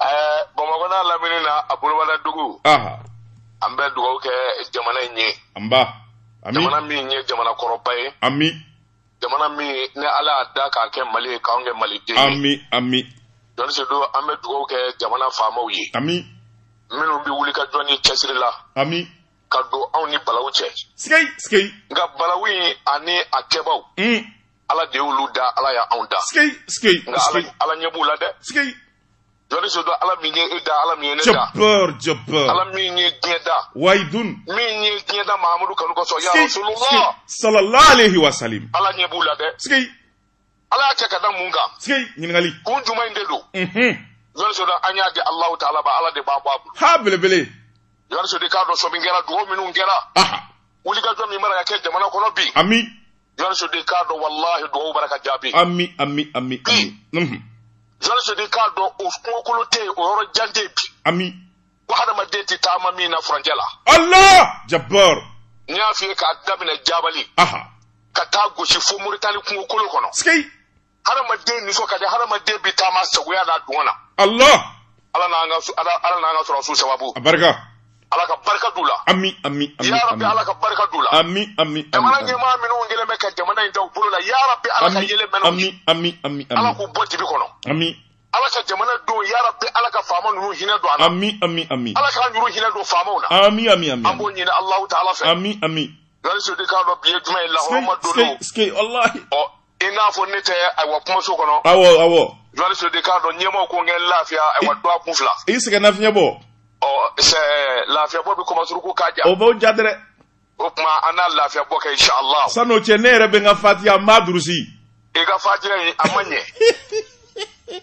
Ɛɛ bamakɔ n'a lamini na a boloda dugu an bɛ dugawu kɛ jamana in ye jamana min ye jamana kɔrɔba ye ami jamana min ne ala y'a da k'a kɛ mali ye k'an kɛ mali den ye ami jɔni so don an bɛ dugawu kɛ jamana faamaw ye ami minnu bɛ wuli ka jɔ ni cɛsiri la ami ka don anw ni balaw cɛ nka bala in ani a kɛbaaw ala de y'olu da ala ye anw da sikeyi sikeyi nka ala sikeyi ala ɲɛ b'u la dɛ sikeyi jɔni so dɔ ala min ye e da ala min ye ne da jabbar jabbar ala min ye diɲɛ da waidun min ye diɲɛ da mahamudu kanu kosɔn ya sikeyi sikeyi rasulullah sallallahu alayhi wa salim ala ɲɛ b'u la dɛ sikeyi ala y'a kɛ ka da mun kan sikeyi ɲininkali kun jumɛn in de don Mhm. jɔni so dɔ an y'a di alahu taala ma ala de b'a bɔ a bolo ha belebele jɔni so de k'a dɔn sɔn min kɛra dugawu minnu kɛra aha wulikajɔ min mana ka kɛ jamana kɔnɔ bi ami Jɔni so de k'a dɔn walahi dugawu bara ka jaabi. Ami ami ami ami. Mhm. Jɔni so de k'a dɔn o kungokolo tɛ yen o yɔrɔ jan tɛ yen bi. Ami. Ko hadamaden tɛ taama min na furancɛ la. Ala jabar. N y'a f'i ye k'a daminɛ Jabali. Aha. Ka taa gosi fo Moritani kungokolo kɔnɔ. Sikeyi. hadamaden nisɔn ka di hadamaden bɛ taama sagoya n'a dungɔ na. ala. ala n'an ka ala ala n'an ka sɔrɔsiw sababu. a barika. ala ka barika d'u la. ami ami ami yarabi ala ka barika d'u la. ami ami ami jamana ɲɛmaa minnu kɛlen bɛ ka jamana in da u bolo la yarabi ala ka yeelen mɛnɛ. ami ami ami ami ala k'u bɔ dibi kɔnɔ. ami. ala ka jamana don yarabi ala ka faama ninnu hinɛ don an na. ami ami ami. ala ka ninnu hinɛ don faamaw la. ami ami ami. an b'o ɲini alahu taala fɛ. ami ami. garisu de k'a dɔn bi ye juma ye lahɔrɔma don. ske ske ske walahi. i n'a fɔ ne tɛ ayiwa kumaso kɔnɔ awɔ awɔ journaliste de k'a dɔn ɲɛmɔgɔ ko n ka n lafiya ayiwa dɔ a kun fila i sɛgɛn nafiɲɛ bɔ ɔ sɛ lafiyabɔ bɛ kuma surun ko k'a ja o b'o ja dɛrɛ o tuma an na lafiyabɔ kɛ inshallah san'o cɛ ne yɛrɛ bɛ n ka fatiya n b'a durusi i ka fatiya in a ma ɲɛ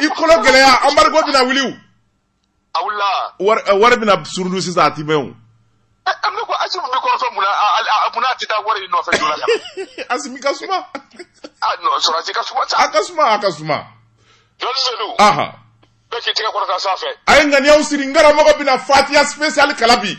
i kolo gɛlɛya embargo bɛna wuli wari bɛna suruntu sisan a ti mɛɛn o ne ko asimi bɛ kɔrɔfɔ mun na mun a tɛ taa wari in nɔfɛ joona kan asimi ka suma sɔrɔsi ka suma a ka suma a ka suma jɔn selu bɛɛ k'i tɛgɛ kɔrɔta sanfɛ a ye ŋaniyaw siri n karamɔgɔ bɛna fatiya spécial kalan bi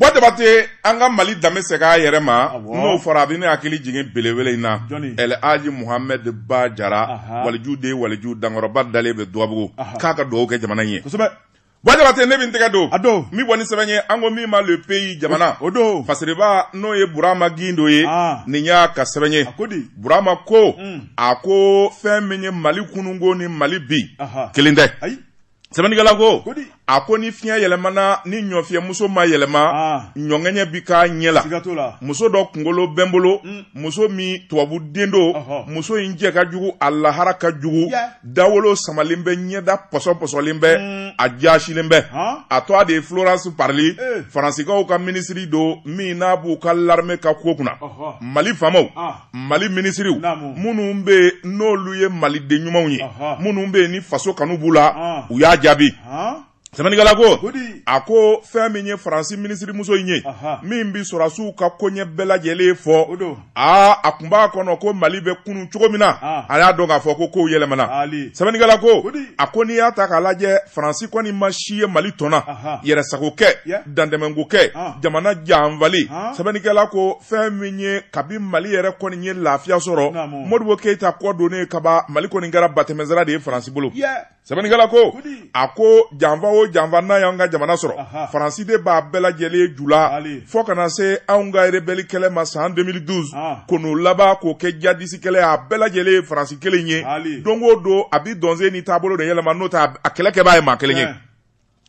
Bɔ jabatɛ an ka mali danbe segin a yɛrɛ ma n'o fɔra a bɛ ne hakili jigin belebele in na elaji muhamɛdi ba jara waliju de waliju dankɔrɔba dalen bɛ dugabugu k'a ka dugawu kɛ jamana ye bɔ jabatɛ ne bɛ n tɛgɛ don a don min bɔ ni sɛbɛn ye an ko min ma le pays jamana o don fasiriba n'o ye burama gindo ye nin y'a ka sɛbɛn ye ko di burama ko a ko fɛn min ye mali kununko ni mali bi kelen tɛ sɛbɛnnikɛla ko a ko ni fiɲɛ yɛlɛmana ni ɲɔfiyɛ muso ma yɛlɛma ah. ɲɔŋɛɲɛ bi k'a ɲɛ la muso dɔ kunkolo bɛ n bolo mm. muso min tubabu den don muso in jɛ ka jugu a lahara ka jugu dawolo samalen bɛ ɲɛda pɔsɔpɔsɔlen bɛ mm. a jasilen bɛ a tɔgɔ de ye florence parly eh. faransikaw ka minisiri don min n'a b'u ka larime ka ko kunna mali faamaw ah. mali minisiriw minnu bɛ yen n'olu ye maliden ɲumanw ye minnu bɛ yen ni faso kanu b'u la u y'a jaabi sɛbɛnnikɛla ko a ko fɛn min ye faransi minisirimuso in ye min bɛ sɔrɔsiw ka koɲɛ bɛɛ lajɛlen fɔ aa a tun b'a kɔnɔ ko mali bɛ kunun cogo min na a y'a dɔn k'a fɔ ko kow yɛlɛmana sɛbɛnnikɛla ko a ko n'i y'a ta k'a lajɛ faransi kɔni ma si ye mali tɔnna yɛrɛsagokɛ dantɛmɛkokɛ jamana janfali sɛbɛnnikɛla ko fɛn min ye kabi bi mali yɛrɛ kɔni ye lafiya sɔrɔ modibo keyita kɔ donnen kaba mali kɔni kɛra batɛmɛsira de ye faransi bolo sɛbɛnnikɛla ko a ko janfa o janfa n'a y'an ka jamana sɔrɔ faransi de b'a bɛɛ lajɛlen ju la fɔɔ ka na se anw ka rebɛli kɛlɛ ma san 2012 kɔnɔ laban k'o kɛ jadisi kɛlɛ ye a bɛɛ lajɛlen ye faransi kelen ye don o don a bi dɔnsen ni taabolo de yɛlɛma n'o tɛ a kɛlɛkɛbaa ye maa kelen ye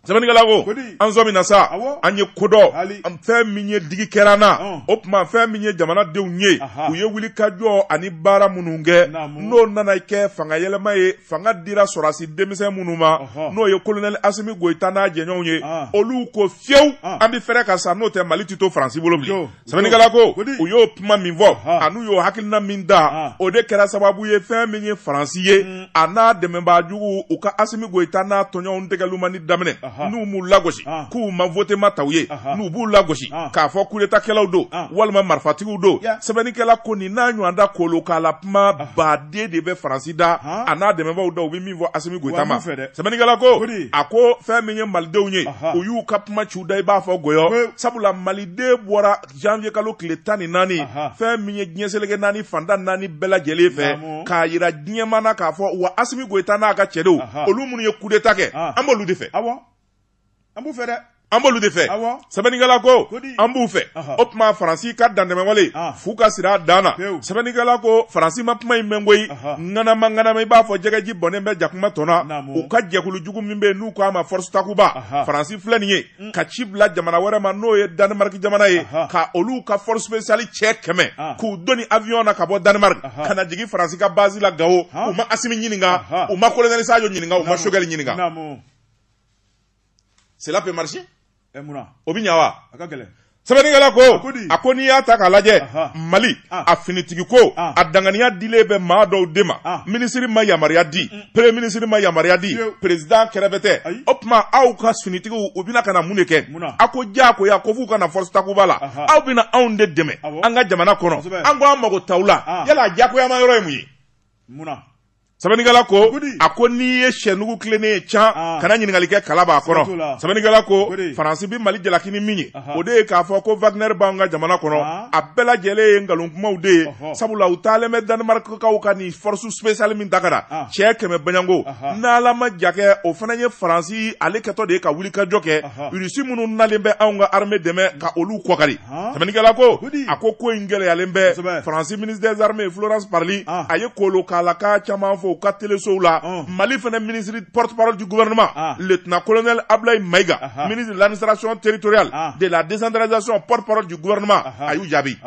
sɛbɛnnikɛla ko an sɔmina sa an ye ko dɔn fɛn min ye digi kɛra an na o tuma fɛn min ye jamanadenw ye u ye wulikajɔ ani baara minnu kɛ n'o nana kɛ fanga yɛlɛma ye fanga dira sɔrɔdasi denmisɛn minnu ma n'o ye kolonɛli asimi goyita n'a jɛɲɔgɔnw ye olu ko fiyewu an bɛ fɛɛrɛ ka sa n'o tɛ mali tɛ to faransi bolo bilen sɛbɛnnikɛla ko u y'o kuma min fɔ an'u y'o hakilina min da o de kɛra sababu ye fɛn min ye faransi ye mm. a n'a dɛmɛbaa jugu u ka asimi goyita n'a tɔɲɔgɔnw tɛgɛlumani daminɛ n'u m'u lagosi k'u ma vote ma ta u ye n'u b'u lagosi k'a fɔ kudetakɛlaw don walima marifatigiw don sɛbɛnnikɛla ko nin n'a ɲɔgɔn da kolo k'a la kuma baden de bɛ faransi da a n'a dɛmɛbaaw da u bɛ min fɔ asimi goyita ma sɛbɛnnikɛla ko a ko fɛn min ye malidenw ye u y'u ka kuma ci u da i b'a fɔ gɔyɔ sabula mali den bɔra janvier kalo tile tan ni naani fɛn min ye diɲɛ seleke naani fan tan ni naani bɛɛ lajɛlen fɛ k'a yira diɲɛmaa na k'a fɔ wa asimi goyita n'a ka cɛdenw olu minnu ye kudeta kɛ an b'olu de fɛ an b'u fɛ dɛ an b'olu de fɛ sɛbɛnnikɛla ko an b'u fɛ o tuma faransi ka dantɛmɛwale ah. f'u ka sira dan na sɛbɛnnikɛla ko faransi ma kuma in mɛn koyi ŋanama ŋanama i b'a fɔ jɛgɛji bɔnnen bɛ jakuma tɔnna u ka jɛkulu jugu min bɛ yen n'u k'a ma force takuba faransi filɛ nin ye mm. ka ci bila jamana wɛrɛ ma n'o ye danimariki jamana ye ka olu ka force spéciale cɛ kɛmɛ ah. k'u doni avion na ka bɔ danimariki ka na jigin faransi ka base la gawo u ma asimi ɲininka u ma kolonɛli sajo ɲininka u ma sogɛli ɲininka cela peut marcher eh, o bɛ ɲa wa sɛbɛnnikɛla ko a ko n'i y'a ta k'a lajɛ mali ah. a finitigi ko ah. a danganiya dilen bɛ maa dɔw de ma ah. minisiri ma yamaruya di mm. premier minisiri ma yamaruya di perezidan kɛrɛbɛtɛ o tuma aw ka finitigiw u bɛna ka na mun de kɛ a ko diyagoya ko f'u ka na force takuba la aw bɛna anw de dɛmɛ an ka jamana kɔnɔ an ko an mago t'aw la yala a diyagoyama yɔrɔ ye mun ye sɛbɛnnikɛla ko a ko n'i ye sɛnugu tilennen ye can ah. kana ɲininkali kɛ kala b'a kɔnɔ sɛbɛnnikɛla ko faransi bɛ mali jalaki ni min ye o de ye k'a fɔ ko wagner b'an ka jamana kɔnɔ ah. a bɛɛ lajɛlen ye nkalon kumaw de ye sabula u taalen bɛ danemarikikaw ka nin force spéciale min dakara ah. cɛ kɛmɛ baɲango n'ala ma jakɛ o fana ye faransi ale kɛtɔ de ye ka wulikajɔ kɛ irisi minnu nalen bɛ anw ka armée dɛmɛ ka olu kɔ kari sɛbɛnnikɛla ko a ko ko in gɛlɛyalen bɛ faransi ministre des armées florence parly ah. a ye kolokalaka caman fɔ u ka telesow la ah. mali fana ministre porte parole du gouvernement ah. lieutenant colonel ablaye mayiga ministre de l'administration territoriale de la décentralisation porte parole du gouvernement a y'u jaabi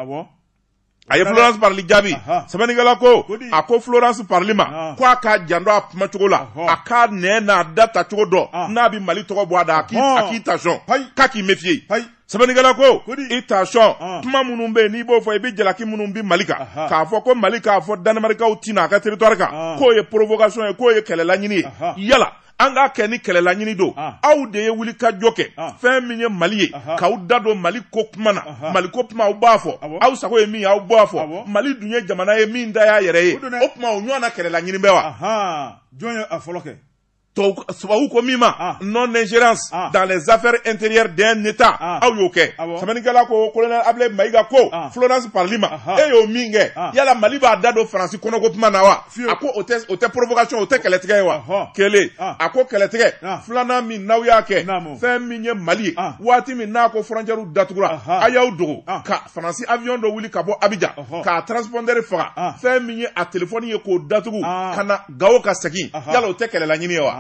a ye florence parly jaabi sɛbɛnnikɛla ko a ko florence parly ma ko a k'a janto a kuma cogo la a k'a nɛn n'a da ta cogo dɔn n'a bɛ mali tɔgɔ bɔ a da a k'i tasɔn k'a k'i mefiye sɛbɛnnikɛla ko i tasɔn kuma minnu bɛ yen n'i b'o fɔ i bɛ jalaki minnu bɛ mali kan k'a fɔ ko mali k'a fɔ danemarikaw tɛna a ka teritɔri kan k'o ye provocation ye k'o ye kɛlɛlaɲini ye yala an k'a kɛ ni kɛlɛlaɲini don aw de ye wuli ka jɔ kɛ fɛn min ye mali ye k'aw da don mali ko kuma na mali ko kuma aw b'a fɔ aw sago ye min ye aw b'a fɔ mali dun ye jamana ye min da y'a yɛrɛ ye o tuma o ɲɔgɔn na kɛlɛlaɲini bɛ wa jɔn ye a fɔlɔ kɛ tubabu ko min ma non ingérence dans les affaires intérieures d'un état aw y'o kɛ sɛbɛnnikɛla ko colonel ablaye mayiga ko florence parly ma e y'o min kɛ yala mali b'a da don faransi kɔnɔko kuma na wa a ko o tɛ o tɛ provocation o tɛ kɛlɛtigɛ ye wa kelen ah. a ko kɛlɛtigɛ ah. filanan min n'aw y'a kɛ fɛn min ye mali ye ah. waati min n'a ko frontière datugura a y'aw dogo ka faransi avion dɔ wuli ka bɔ abidjan k'a transpondeur faga fɛn min ye a telefɔni ye k'o datugu ka na gawo ka segin yala o tɛ kɛlɛlaɲini ye wa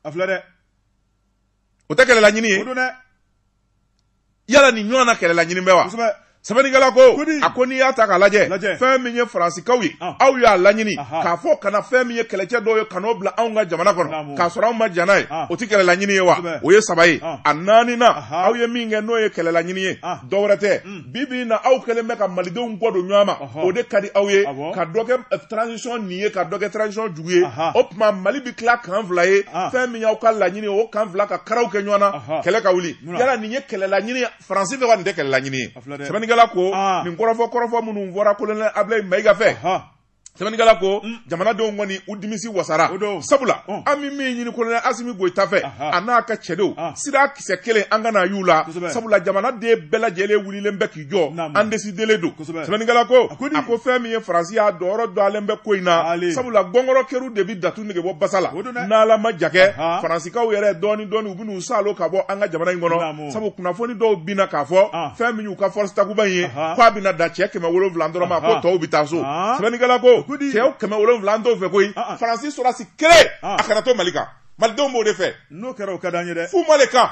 a filɛ dɛ o tɛ kɛlɛlaɲini ye yala nin ɲɔgɔn na kɛlɛlaɲini bɛ wa sɛbɛnnikɛla ko a ko n'i y'a ta k'a lajɛ fɛn min ye faransikaw ye ah. aw y'a laɲini k'a fɔ ka na fɛn min ye kɛlɛcɛ dɔw ye ka n'o bila anw ka jamana kɔnɔ k'a sɔrɔ anw ma jɛn n'a ye ah. o tɛ kɛlɛlaɲini ye wa o ye saba ye ah. a naaninan aw ye min kɛ n'o ye kɛlɛlaɲini ye dɔwɛrɛ tɛ hmm. bi bi na aw kɛlen bɛ ka malidenw kɔ don ɲɔgɔn ma o de ka di aw ye ka dɔ kɛ eh, transition ɲin ye ka dɔ kɛ transition jugu ye o tuma mali bɛ tila kan fila ye ah. fɛn min y'aw ka laɲini ye o kan fila ka karaw kɛ ɲɔgɔn na kɛlɛ ka wuli yala nin ye kɛlɛlaɲini ye faransi fɛ wa nin tɛ kɛlɛlaɲini ye sɛbɛnnikɛla ko ah. nin kɔrɔfɔ kɔrɔfɔ minnu fɔra kolonɛli abilayi mayiga fɛ sɛbɛnnikɛla ko mm. jamanadenw kɔni u dimisi wasara sabula mm. an bɛ min ɲini kolonɛ asimi goyita fɛ a n'a ka cɛdenw ah. siran kisɛ kelen an kana y'u la sabula jamanaden bɛɛ lajɛlen wulilen bɛ k'i jɔ an desidelen don sɛbɛnnikɛla ko a ko fɛn min ye faransi y'a jɔyɔrɔ dɔlen bɛ ko in na sabula gɔngɔrɔ kɛru de bɛ datu nege bɔ basa la n'ala ma ja kɛ faransikaw yɛrɛ dɔɔni dɔɔni u bɛn'u salo ka bɔ an ka jamana in kɔnɔ sabu kunnafoni dɔw binna k'a fɔ ah. fɛn min y'u ka force takuba in ye k'a bina da cɛ kɛmɛ wolonwula dɔrɔn ma ko tɔw bi taa so ah. sɛbɛnnikɛla ko cɛw kɛmɛ wolonwula an t'o fɛ koyi ah, faransi sɔrɔdasi kelen a kana to mali kan malidenw b'o de fɛ n'o kɛra o ka d'an ye dɛ f'u ma le kan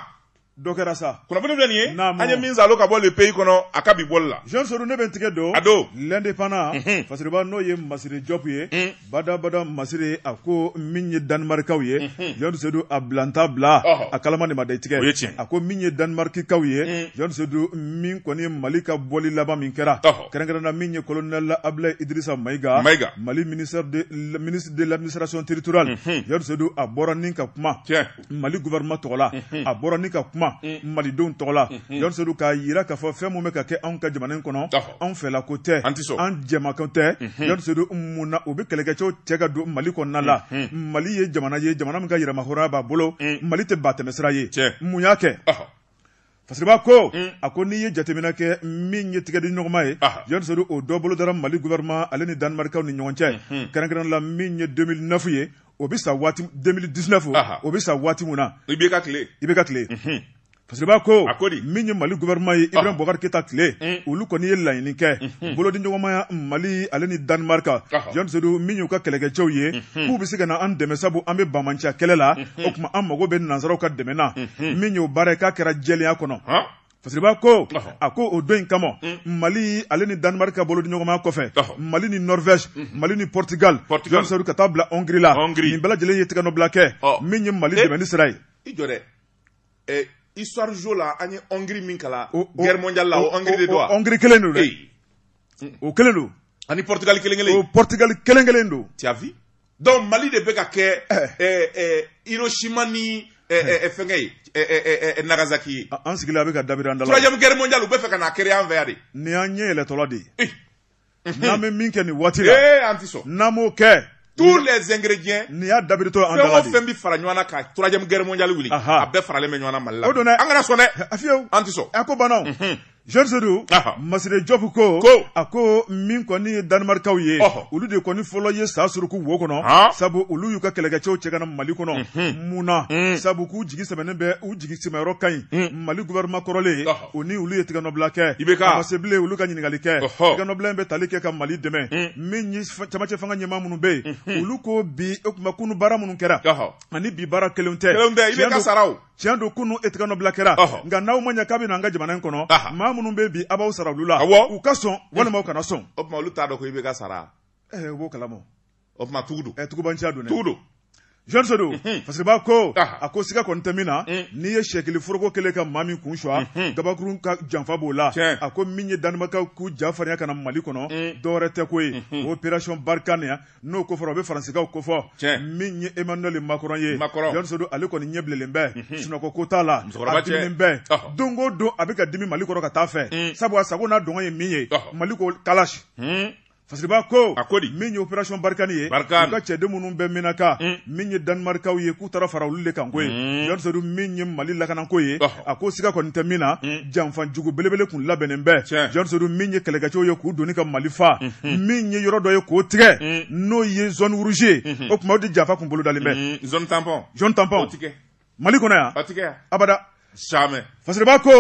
dɔ kɛra sa kunnafoni filɛ nin ye an ye min salo ka bɔ le pays kɔnɔ a ka bi bɔli la jean sedu ne bɛ n tigɛ don a don l'indépendant mhm. fasiriba n'o ye masire jɔpu ye mhm. badabada masire a ko min ye danimarikikaw ye mhm. jɔn sedu a bilanta bila a kalama de ma da tigɛ a ko min ye danimarikikaw ye mhm. jɔn sedu min kɔni mali ka bɔli laban min kɛra kɛrɛnkɛrɛnna min ye kolonɛli abilayi idirisa mayiga mali ministre de l'administration territoriale mhm. jɔn sedu a bɔra ni ka kuma mali gouvernement tɔgɔ la a bɔra ni ka kuma malidenw tɔgɔ la jɔn sedu k'a yira k'a fɔ fɛn min bɛ ka kɛ anw ka jamana in kɔnɔ anw fɛla ko tɛ an jɛmako tɛ jɔn sedu mun na u bɛ kɛlɛkɛcɛw cɛ ka don mali kɔnɔna la mali ye jamana ye jamana min ka yɛrɛmahɔrɔnya b'a bolo mali tɛ batɛmɛsira ye mun y'a kɛ fasiriba ko mm. a ko n'i ye jateminɛ kɛ min ye tigɛdi ɲɔgɔnma ye jɔn sedu o dɔ bolodara mali gouvernement ale ni danmarikaw ni ɲɔgɔn cɛ mm-hmm. kɛrɛnkɛrɛn la min ye 2009 ye o bɛ sa waati 2019 o bɛ sa waati mun na ibk tile ibk tile mm-hmm. fasiriba ko a ko min ye mali gouvernement ye ibrahim boubacar keïta tile mm. olu kɔni ye laɲini kɛ mm-hmm. bolodi ɲɔgɔnmaya mali ale ni danmark jɔn sedu min y'u ka kɛlɛkɛcɛw ye k'u bɛ se ka na an dɛmɛ sabu an bɛ banbaanciya kɛlɛ la o tuma an mago bɛ nansaraw ka dɛmɛ na min y'o baara ye k'a kɛra jɛlenya kɔnɔ Fasiriba ko a ko o don in kama Mali ale ni Danemark ka bolo di ɲɔgɔn ma kɔfɛ Mali ni Norvège Mali ni Portugal jɔn sedu ka taa bila Hongrie la nin bɛɛ lajɛlen ye tɛgɛnɔbila kɛ min ye Mali dɛmɛni sira ye i jɔ dɛ ɛ histoire géo la an ye Hongrie min kalan guerre mondiale la o Hongrie de don wa Hongrie kelen don dɛ o kelen don ani Portugal kelen kelen o Portugal kelen kelen don tu as vu donc mali de bɛ ka kɛ eh. hiroshima ni fɛnkɛ ye nagasaki ye an sigila a bɛ ka dabiri an da la troisième guerre mondiale u bɛ fɛ ka n'a créer an fɛ yan de nin y'an ɲɛ yɛlɛtɔla de ye n'an bɛ min kɛ nin waati la ee an tɛ sɔn n'an m'o kɛ tous les ingrédients nin y'a dabiritɔ an da la de fɛn o fɛn bɛ fara ɲɔgɔn na ka troisième guerre mondiale wuli a bɛɛ faralen bɛ ɲɔgɔn na mali la o don dɛ an kana sɔn dɛ a fiyewu an tɛ sɔn a ko banna o Jɔn Sodo masire jɔp ko a ko min kɔni ye Danemarkaw ye olu de kɔni fɔlɔ ye sa suruku wo kɔnɔ sabu olu y'u ka kɛlɛkɛcɛw cɛ ka na mali kɔnɔ mun na sabu k'u jigi sɛmɛnen bɛ u jigi sɛmɛyɔrɔ ka ɲi mali gouvernement kɔrɔlen o ni olu ye tɛgɛnɔbila kɛ a ma se bilen olu ka ɲininkali kɛ tɛgɛnɔbila in bɛ tali kɛ ka mali dɛmɛ min ye camancɛ fanga ɲɛmaa minnu bɛ yen olu ko bi o tuma kunun baara minnu kɛra ani bi baara kelen tɛ i bɛ ka sara o tiɲɛ don kunu tɛgɛnɔbila kɛra nka n'aw ma ɲɛ k'a bɛ na an ka jamana in kɔnɔ maa minnu bɛ bi a b'aw sara olu la u ka sɔn walima u kana sɔn o tuma olu t'a dɔn ko i bɛ ka sara eh, u b'o kalama o tuma tugu don eh, tugubanciya don tugu don Jɔn Sodo mhm. Fasiriba ko a ko siga kɔni tɛ min na mhm. n'i ye sɛkili foroko kelen ka maa min kun suwa mhm. gabakurun ka janfa b'o la a ko min ye Danemarkaw k'u ja farinya ka na Mali kɔnɔ dɔwɛrɛ tɛ ko ye o opération Barkhane n'o ko fɔra o bɛ faransikaw ko fɔ Tiɲɛ. min ye Emmanuel Macron ye Macron. Jɔn Sodo ale kɔni ɲɛ bilennen bɛ sunɔgɔ ko t'a la Musokɔrɔba a cɛ. diminen bɛ Ɔhɔ. don o don a bɛ ka dimi Mali kɔrɔ ka taa fɛ Mm. sabu a sago n'a dungɔ ye min ye Ɔhɔ. Mali ko kalasi Hun. Fasiriba ko A ko di? min ye opération Barkhane ye Barkhane. u ka cɛden minnu bɛ Menaka Mm. min ye Danemarkaw ye k'u taara fara olu de kan ko ye Mm. Jɔn Sodo min ye Mali lakanako ye Ɔhɔ. a ko siga kɔni tɛ min na mm. janfa jugu belebele kun labɛnnen bɛ Jɔn Sodo min ye kɛlɛkɛcɛw ye k'u doni ka mali fa mm-hmm. min ye yɔrɔ dɔ ye k'o tigɛ mm. n'o ye zone rouge ye mm-hmm. o tuma o de janfa kun bolodalen bɛ mm-hmm. zone tampon zone tampon mali kɔnɔ yan abada Jamais. Fasiriba ko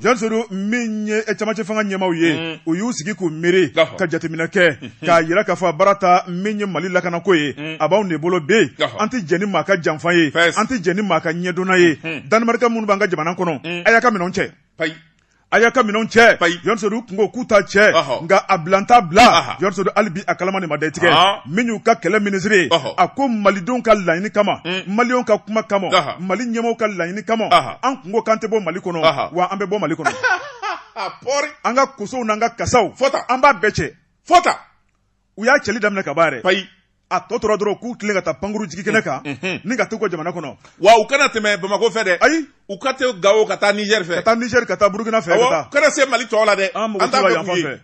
Jɔn Sodo min ye camancɛ fanga ɲɛmaaw ye u y'u sigi k'u miiri ka jateminɛ kɛ k'a jira k'a fɔ a baara ta min ye mali lakanako ye mm. a b'anw de bolo bi Ɔhɔ. an tɛ jɛn ni maa ka janfa ye Fɛs. an tɛ jɛn ni maa ka ɲɛdonna ye Mhm. danimarika minnu b'an ka jamana kɔnɔ Mm. a y'a ka minɛnw cɛ Payi. a y'a ka minɛnw cɛ Payi. Jɔn Sodo kun ko k'u t'a cɛ Ɔhɔ. nka a bilan t'a bila Aha. Jɔn Sodo hali bi a kalama nin ma datigɛ Ah. min y'u ka kɛlɛ minisiri ye Ɔhɔ. a ko malidenw ka laɲini kama Mm. maliyɛnw ka kuma kama Aha. mali ɲɛmɔgɔw ka laɲini kama Aha. an kun ko k'an tɛ bɔ mali Aha. kɔnɔ wa an bɛ bɔ mali kɔnɔ A pɔri. an ka kosow n'an ka kasaw Fɔta. an b'a bɛɛ cɛ fota u y'a cɛli daminɛ ka ban yɛrɛ payi a tɔ tora dɔrɔn k'u tilen ka taa pankurun jigin kɛnɛ kan mm, mm. ni ka t'u ka jamana kɔnɔ wa u kana tɛmɛ bamako fɛ dɛ ayi u ka tɛ gawo ka taa nizɛri fɛ ka taa nizɛri ka taa burukina fɛ ka taa kana se mali tɔ la dɛ an mago t'u la yan fan fɛ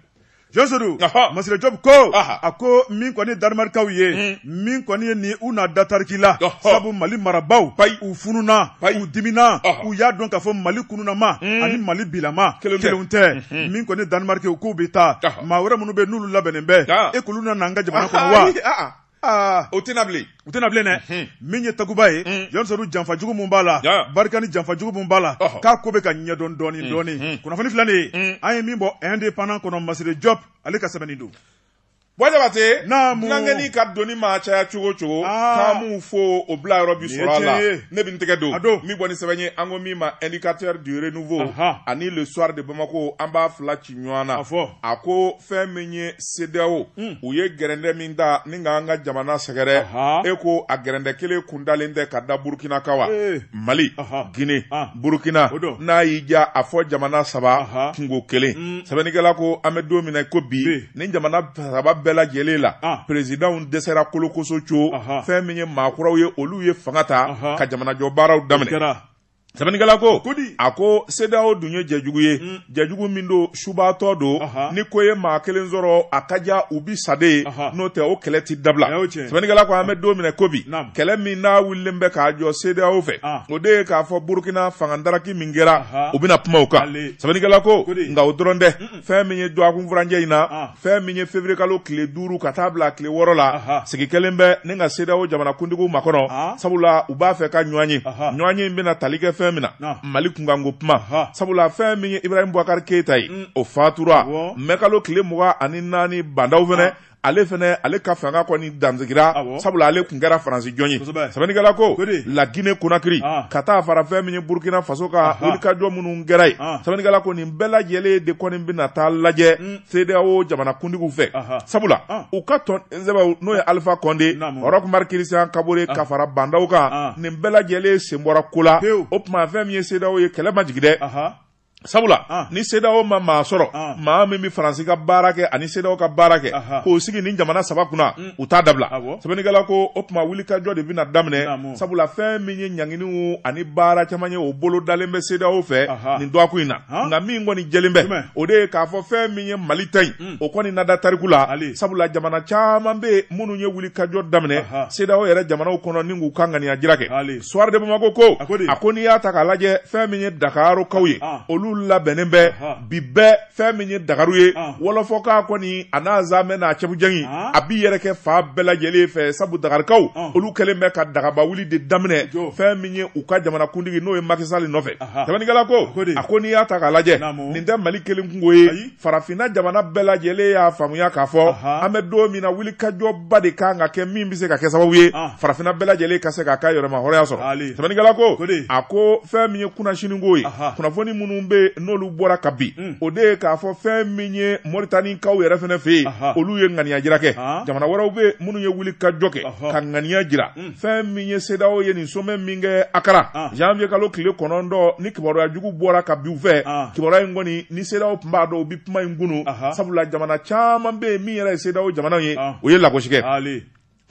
Jɔn Sodo masire jɔp ko a ko min kɔni danimarikaw ye mm. min kɔni ye nin u n'a da tariki la sabu mali marabaaw u fununa u dimina u y'a dɔn k'a fɔ mali kununama hmm. ani mali bilama kelenw tɛ hmm. min kɔni Danemarkaw k'u bɛ taa maa wɛrɛ minnu bɛ n'olu labɛnnen bɛ e k'olu na n'an ka jamana kɔnɔ wa ah, ah. Ah. u tɛ na bilen u tɛ na bilen dɛ hmm. min ye takuba ye hmm. Jɔn Sodo janfa jugu min b'a la Barkhane janfa jugu min b'a la k'a ko bɛ ka ɲɛdɔn dɔɔni hmm. dɔɔni kunnafoni filɛ nin ye an ye min bɔ indépendant kɔnɔ masire jɔp ale ka sɛbɛnni don Bon jabate naani ka don ni maa caya cogo o cogo ah. k'an m'u fo o bila yɔrɔ bi sɔrɔ la ne bɛ n tɛgɛ don min bɔ ni sɛbɛn ye an ko min ma indicateur du renouveau ani le soir de bamako an b'a fila ci ɲɔgɔn na fɔ a ko fɛn min ye CEDEAO hmm. u ye gɛrɛntɛ min da ni ka an ka jamana sɛgɛrɛ e ko a gɛrɛntɛ kelen kun dalen tɛ ka da burukina kan wa mali gine ah. burukina n'a y'i ja a fɔ jamana saba kungo kelen hmm. sɛbɛnnikɛla ko an bɛ don min ko bi ni jamana saba bɛɛ lajɛlen la perezidanw dɛsɛra kolokoso co fɛn min ye maakuraw ye olu ye fanga ta ka jamanajɔ baaraw daminɛ sɛbɛnnikɛla ko a ko CEDEAO dun ye jɛjugu ye mm. jɛjugu min don subaatɔ don ni ko ye maa kelen sɔrɔ a ka ja u bi sade ye n'o tɛ o kɛlɛ tɛ dabila sɛbɛnnikɛla ko an bɛ don min na ko bi kɛlɛ min n'a wulilen bɛ ka jɔ CEDEAO fɛ ah. o de ye k'a fɔ burukina fangadaraki min kɛra u bɛna kuma o kan sɛbɛnnikɛla ko nka o dɔrɔn tɛ fɛn min ye dɔgɔkun furancɛ in na ah. fɛn min ye février kalo tile duuru ka taa bila tile wɔɔrɔ la sigi kelen bɛ ni ka CEDEAO jamanakuntigiw makɔnɔ ah. sabula u b'a fɛ ka ɲɔgɔn ye ɲɔgɔnye in bɛna tali kɛ fɛn min na ah. Mali kunkanko kuma sabula fɛn min ye Ibrahim Boubacar Keita ye mm. o fatura mɛkalo tile mugan ani naani Ba Ndaw fɛnɛ ale fɛnɛ ale ka fanga kɔni dansigira sabula ale tun kɛra faransi jɔn ye sɛbɛnnikɛla ko la guinée conakry ah. ka taa fara fɛn min ye burkina faso ka wulikajɔ minnu kɛra ye ah. sɛbɛnnikɛla ko nin bɛɛ lajɛlen de kɔni bɛna taa lajɛ mm. cedeao jamanakuntigiw fɛ sabula ah. u ka tɔn sɛbɛw n'o ye alpha condé roch marc christian kabore ka fara ba ndaw kan nin bɛɛ lajɛlen sen bɔra ko la o tuma fɛn min ye cedeao ye kɛlɛ ma jigin dɛ sabula ah. ni CEDEAO ma maa sɔrɔ ah. maa min bɛ faransi ka baara kɛ ani CEDEAO ka baara kɛ k'o sigi ni jamana saba kunna mm. u t'a dabila ah, sɛbɛnnikɛla ko o tuma wulikajɔ de bɛna daminɛ sabula fɛn min ye ɲanginiw ani baara caman ye o bolo dalen bɛ CEDEAO fɛ nin dɔgɔkun in na nka min kɔni jɛlen bɛ o de ye k'a fɔ fɛn min ye mali ta in mm. o kɔni na da tariku la sabula jamana caman bɛ minnu ye wulikajɔ daminɛ CEDEAO yɛrɛ jamanaw kɔnɔ ni k'u ka ŋaniya jira kɛ soir de bamako ko a ko n'i y'a ta k'a lajɛ fɛn min ye dakarokaw ye olu labɛnnen bɛ bi bɛɛ fɛn min ye dakaru ye wɔlɔfɔ ka kɔni a n'a zamɛ n'a cɛbujɛngi a bi yɛrɛkɛ fan bɛɛ lajɛlen fɛ sabu dakarikaw olu kɛlen bɛ ka dagaba wuli de daminɛ fɛn min ye u ka jamanakuntigi n'o ye Macky Sall nɔfɛ sɛbɛnnikɛla ko a ko n'i y'a ta k'a lajɛ nin tɛ mali kelen kungo ye farafinna jamana bɛɛ lajɛlen y'a faamuya k'a fɔ an bɛ don min na wulikajɔba de kan ka kɛ min bɛ se ka kɛ sababu ye ah. farafinna bɛɛ lajɛlen ka se k'a ka yɛrɛmahɔrɔnya sɔrɔ sɛbɛnnikɛla ko a ko fɛn min ye kunasiniko ye kunnafoni minnu bɛ yen n'olu bɔra ka bin mm. o de ye k'a fɔ fɛn min ye moritanikaw yɛrɛ fɛnɛ fɛ yen olu ye ŋaniya jira kɛ jamana wɛrɛw bɛ minnu ye wulikajɔ kɛ ka ŋaniya jira Hmm. fɛn min ye sedao ye nin somɛ min kɛ akara ah. janvier kalo tile kɔnɔntɔn ni kibaruya jugu bɔra ka biw fɛ ah. kibaruya in kɔni ni sedao tun b'a dɔn u bɛ kuma in kunu sabula jamana caman bɛ yen min yɛrɛ ye sedao jamanaw ye ah. o ye lagosi kɛ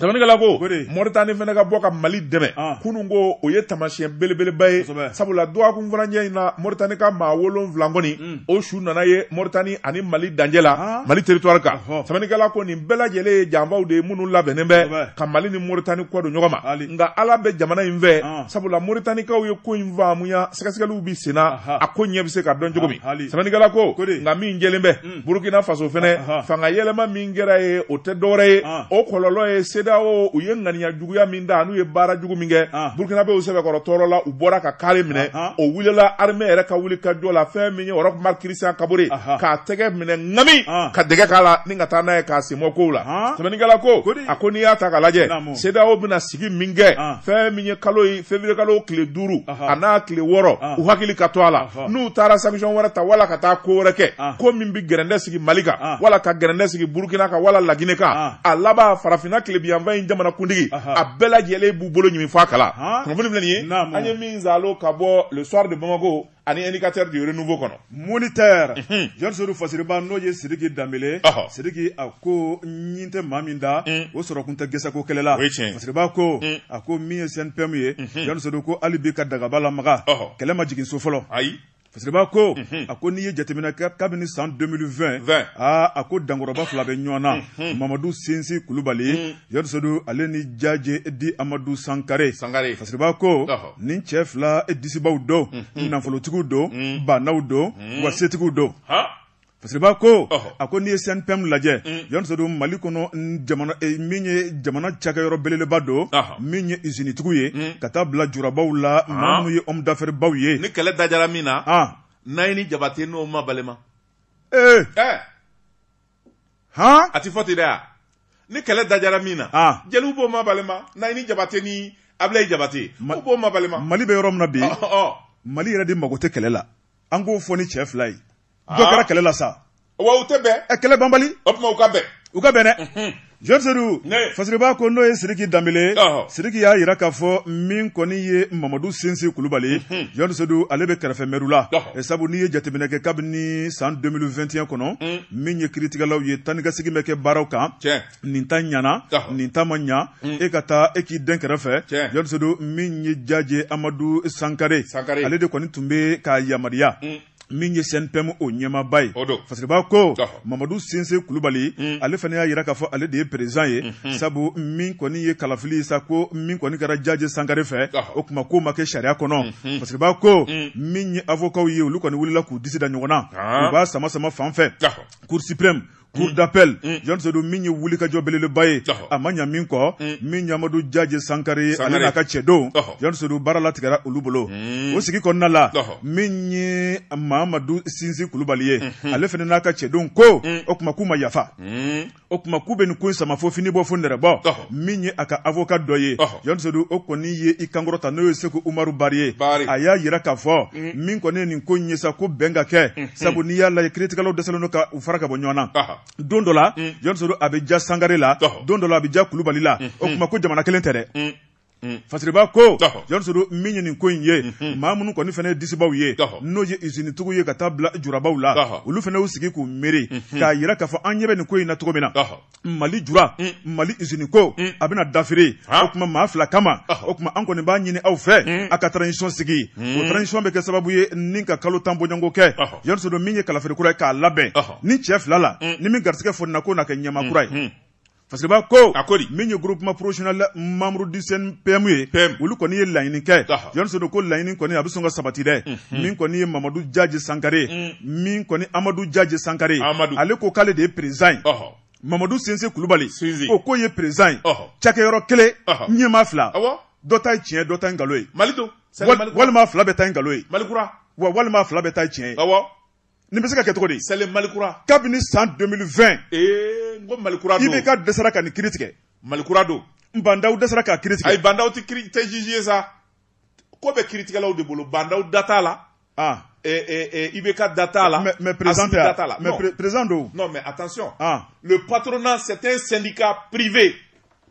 sɛbɛnnikɛla ko moritani fɛnɛ ka bɔ ka mali dɛmɛ ah. kunun ko o ye tamasiyɛn belebeleba ye sabula dɔgɔkun furancɛ in na moritani ka maa wolonwula kɔni mm. o su nana ye moritani ani mali dancɛ la ah. mali territoire kan sɛbɛnnikɛla ko nin bɛɛ lajɛlen ye janfaw de ye minnu labɛnnen bɛ ka mali ni moritani kɔ don ɲɔgɔn ma nka ala bɛ jamana in fɛ ah. sabula moritanikaw ye ko in faamuya sɛgɛsɛgɛliw bɛ senna a ko ɲɛ bɛ se ka dɔn cogo min ah, sɛbɛnnikɛla ko nka min jɛlen bɛ hmm. burukina faso fɛnɛ fanga yɛlɛma min kɛra yen o tɛ dɔwɛrɛ ye o kɔlɔlɔ ye sedao u ye ŋaniya juguya min da n'u ye baara jugu min kɛ ah. burukinabɛw sɛbɛkɔrɔ tɔɔrɔla u bɔra ka kale minɛ ah, ah. o wolola armée yɛrɛ ka wuli ka jɔ la fɛn min ye roch marc christian kabore k'a tɛgɛ minɛ ŋami ka dɛgɛ k'a la ni ka taa n'a ye k'a senbɔ kow la sɛbɛnnikɛla ko a ko n'i y'a ta ka lajɛ sedao bɛna sigi min kɛ fɛn min ye kalo ye février kalo tile duuru a n'a tile wɔɔrɔ u hakili ka to a la n'u taara sanction wɛrɛ ta wala ka taa ko wɛrɛ kɛ ah. ko min bɛ gɛrɛndɛ sigi mali kan ah. wala ka gɛrɛndɛ sigi burukina kan wala lagine kan ah. a laban farafinna tilebinyanfan in jamanakuntigi a bɛɛ lajɛlen b'u bolo ɲimin f'a kala kunnafoni filɛ nin ye an ye min zalo ka bɔ le soir de bamako ani indicateur du renouveau kɔnɔ moniteur mhm. jɔnsedu fasiriba n'o ye sidiki danbele sidiki a ko ɲin tɛ maa min da mm. o sɔrɔ kun tɛ geseko kɛlɛ la Fasiriba ko mm. a ko min ye CNPM ye mm-hmm. jɔnsedu ko hali bi ka dagaba lamaga kɛlɛ ma jigin so fɔlɔ Fasiriba ko mhm. a ko n'i ye jateminɛ kabini san 2020 aa a ko dankɔrɔba fila bɛ ɲɔgɔn na mhm. Mamadu Sinsi Kulubali mhm. Jɔnsedu ale ni Jaje dit Amadu Sankare Sankare Fasiriba ko nin cɛ fila disibaw don nafolotigiw don baanaw don wa setigiw don Fasiriba ko a ko n'i ye CNPM lajɛ jɔnsedu mali kɔnɔ min ye jamana cakɛyɔrɔ belebeleba don min ye usine tigiw ye ka taa bila jurabaw la n'u ye homme d'affaires baw ye ni kɛlɛ da jara min na Nayini jabate n'o ma bali ee h a tɛ fɔ ten dɛ ni kɛlɛ da jara min na jeliw b'o ma bali Nayini jabate ni Abilaye jabate b'o ma bali mali bɛ yɔrɔ min na bi mali yɛrɛ de mako tɛ kɛlɛ la an k'o fɔ nin cɛ fila ye dɔ kɛra kɛlɛ la sa wa u tɛ bɛn ɛ kɛlɛ banbali o tuma u ka bɛn u ka bɛn dɛ mhm. jɔnsedu fasiriba ko n'o ye siriki danbele siriki y'a yira k'a fɔ min kɔni ye mamadu sinsi kulubali mhm. jɔnsedu ale bɛ kɛrɛfɛ mɛru la sabu n'i ye jateminɛ kɛ kabini san 2021 kɔnɔ mhm. min ye kiritigɛlaw ye taa ni ka segin bɛ kɛ baaraw kan nin ta ɲana nin ta ma ɲa e ka taa e k'i dɛn kɛrɛfɛ jɔnsedu min ye jaje amadu sankare ale de kɔni tun bɛ ka yamariya min ye CNPM o ɲɛmaaba ye fasiriba ko Mamadu Sinsi Kulubali hmm. ale fana y'a yira k'a fɔ ale de ye président ye hmm. sabu min kɔni ye kalafili ye sa ko min kɔni kɛra Jaje Sankare fɛ o kuma k'o ma kɛ sariya kɔnɔ hmm. fasiriba ko min ye avocats ye olu kɔni wulila k'u disi da ɲɔgɔn na ah. u b'a sama sama fan fɛ Cour suprême Cour d'appel mm. John Seydou min ye wulikajɔ belebeleba ye a ma ɲa min kɔ mm. min ye Amadu Jaje Sankare ye ale n'a ka cɛdenw John Seydou baara latigɛra olu bolo mm. o sigi kɔnɔna la min ye Mamadu Sinsi Kulubali ye mm-hmm. ale fana n'a ka cɛdenw ko o kuma k'u ma yafa o kuma k'u bɛ nin ko in sama fo fini bɔ fo nɛrɛbɔ min ye a ka avocat dɔ ye John Seydou o kɔni ye i kan kɔrɔta n'o ye Seku Umaru Bari ye a y'a yira k'a fɔ min kɔni ye nin ko in ye sa ko bɛn ka kɛ mhm. sabu n'i y'a lajɛ kiritigɛlaw dɛsɛlen don ka u fara ka bɔ ɲɔgɔn na don dɔ la mhm. John Seydou a bɛ ja sankare la don dɔ la a bɛ ja kulubali la mhm. o kuma ko jamana kelen tɛ dɛ Mm. fasiriba ko John Seydou min ye nin ko in ye mm-hmm. maa minnu kɔni fana ye disibaw ye n'o ye izinitigiw ye ka taa bila jurabaw la olu fana y'u sigi k'u miiri mm-hmm. k'a yira k'a fɔ an ɲɛ bɛ nin ko in na cogo min na mali jura mm. mali usine ko mm. a bɛna dafiri o kuma maa fila kama o kuma an kɔni b'a ɲini aw fɛ mm. a ka transition sigi o transition bɛ kɛ sababu ye ni ka kalo tan bɔɲɔgɔnko kɛ John Seydou min ye kalafili kura ye k'a labɛn nin cɛ fila la ni min garisigɛ fonina k'o na kɛ ɲɛmaa kura ye fasiriba ko min ye groupement professionnel membre du CNPM ye olu kɔni ye laɲini kɛ John Seydou ko laɲini kɔni a bɛ sɔn ka sabati dɛ min kɔni ye mamadu jaje sankare min kɔni amadu jaje sankare ale ko k'ale de ye perezan ye mamadu sinsi kulubali o k'o ye perezan ye cakɛyɔrɔ kelen ɲɛmaa fila dɔ ta ye tiɲɛ dɔ ta ye nkalon ye walima fila bɛɛ ta ye nkalon ye wa walima fila bɛɛ ta ye tiɲɛ ye nin bɛ se ka kɛ cogo di sa malikura kabini san 2020 ee n ko malikura don IBK dɛsɛra ka nin kiri tigɛ malikura don ba ndaw dɛsɛra ka kiri tigɛ ayi ba ndaw tɛ kiri tɛ juge ye sa ko bɛ kiritigɛlaw de bolo ba ndaw da t'a la ah. eh, eh, eh, IBK da t'a la mais, mais président da t'a la mais non. président don non mais attention ah. le patronat c'est un syndicat privé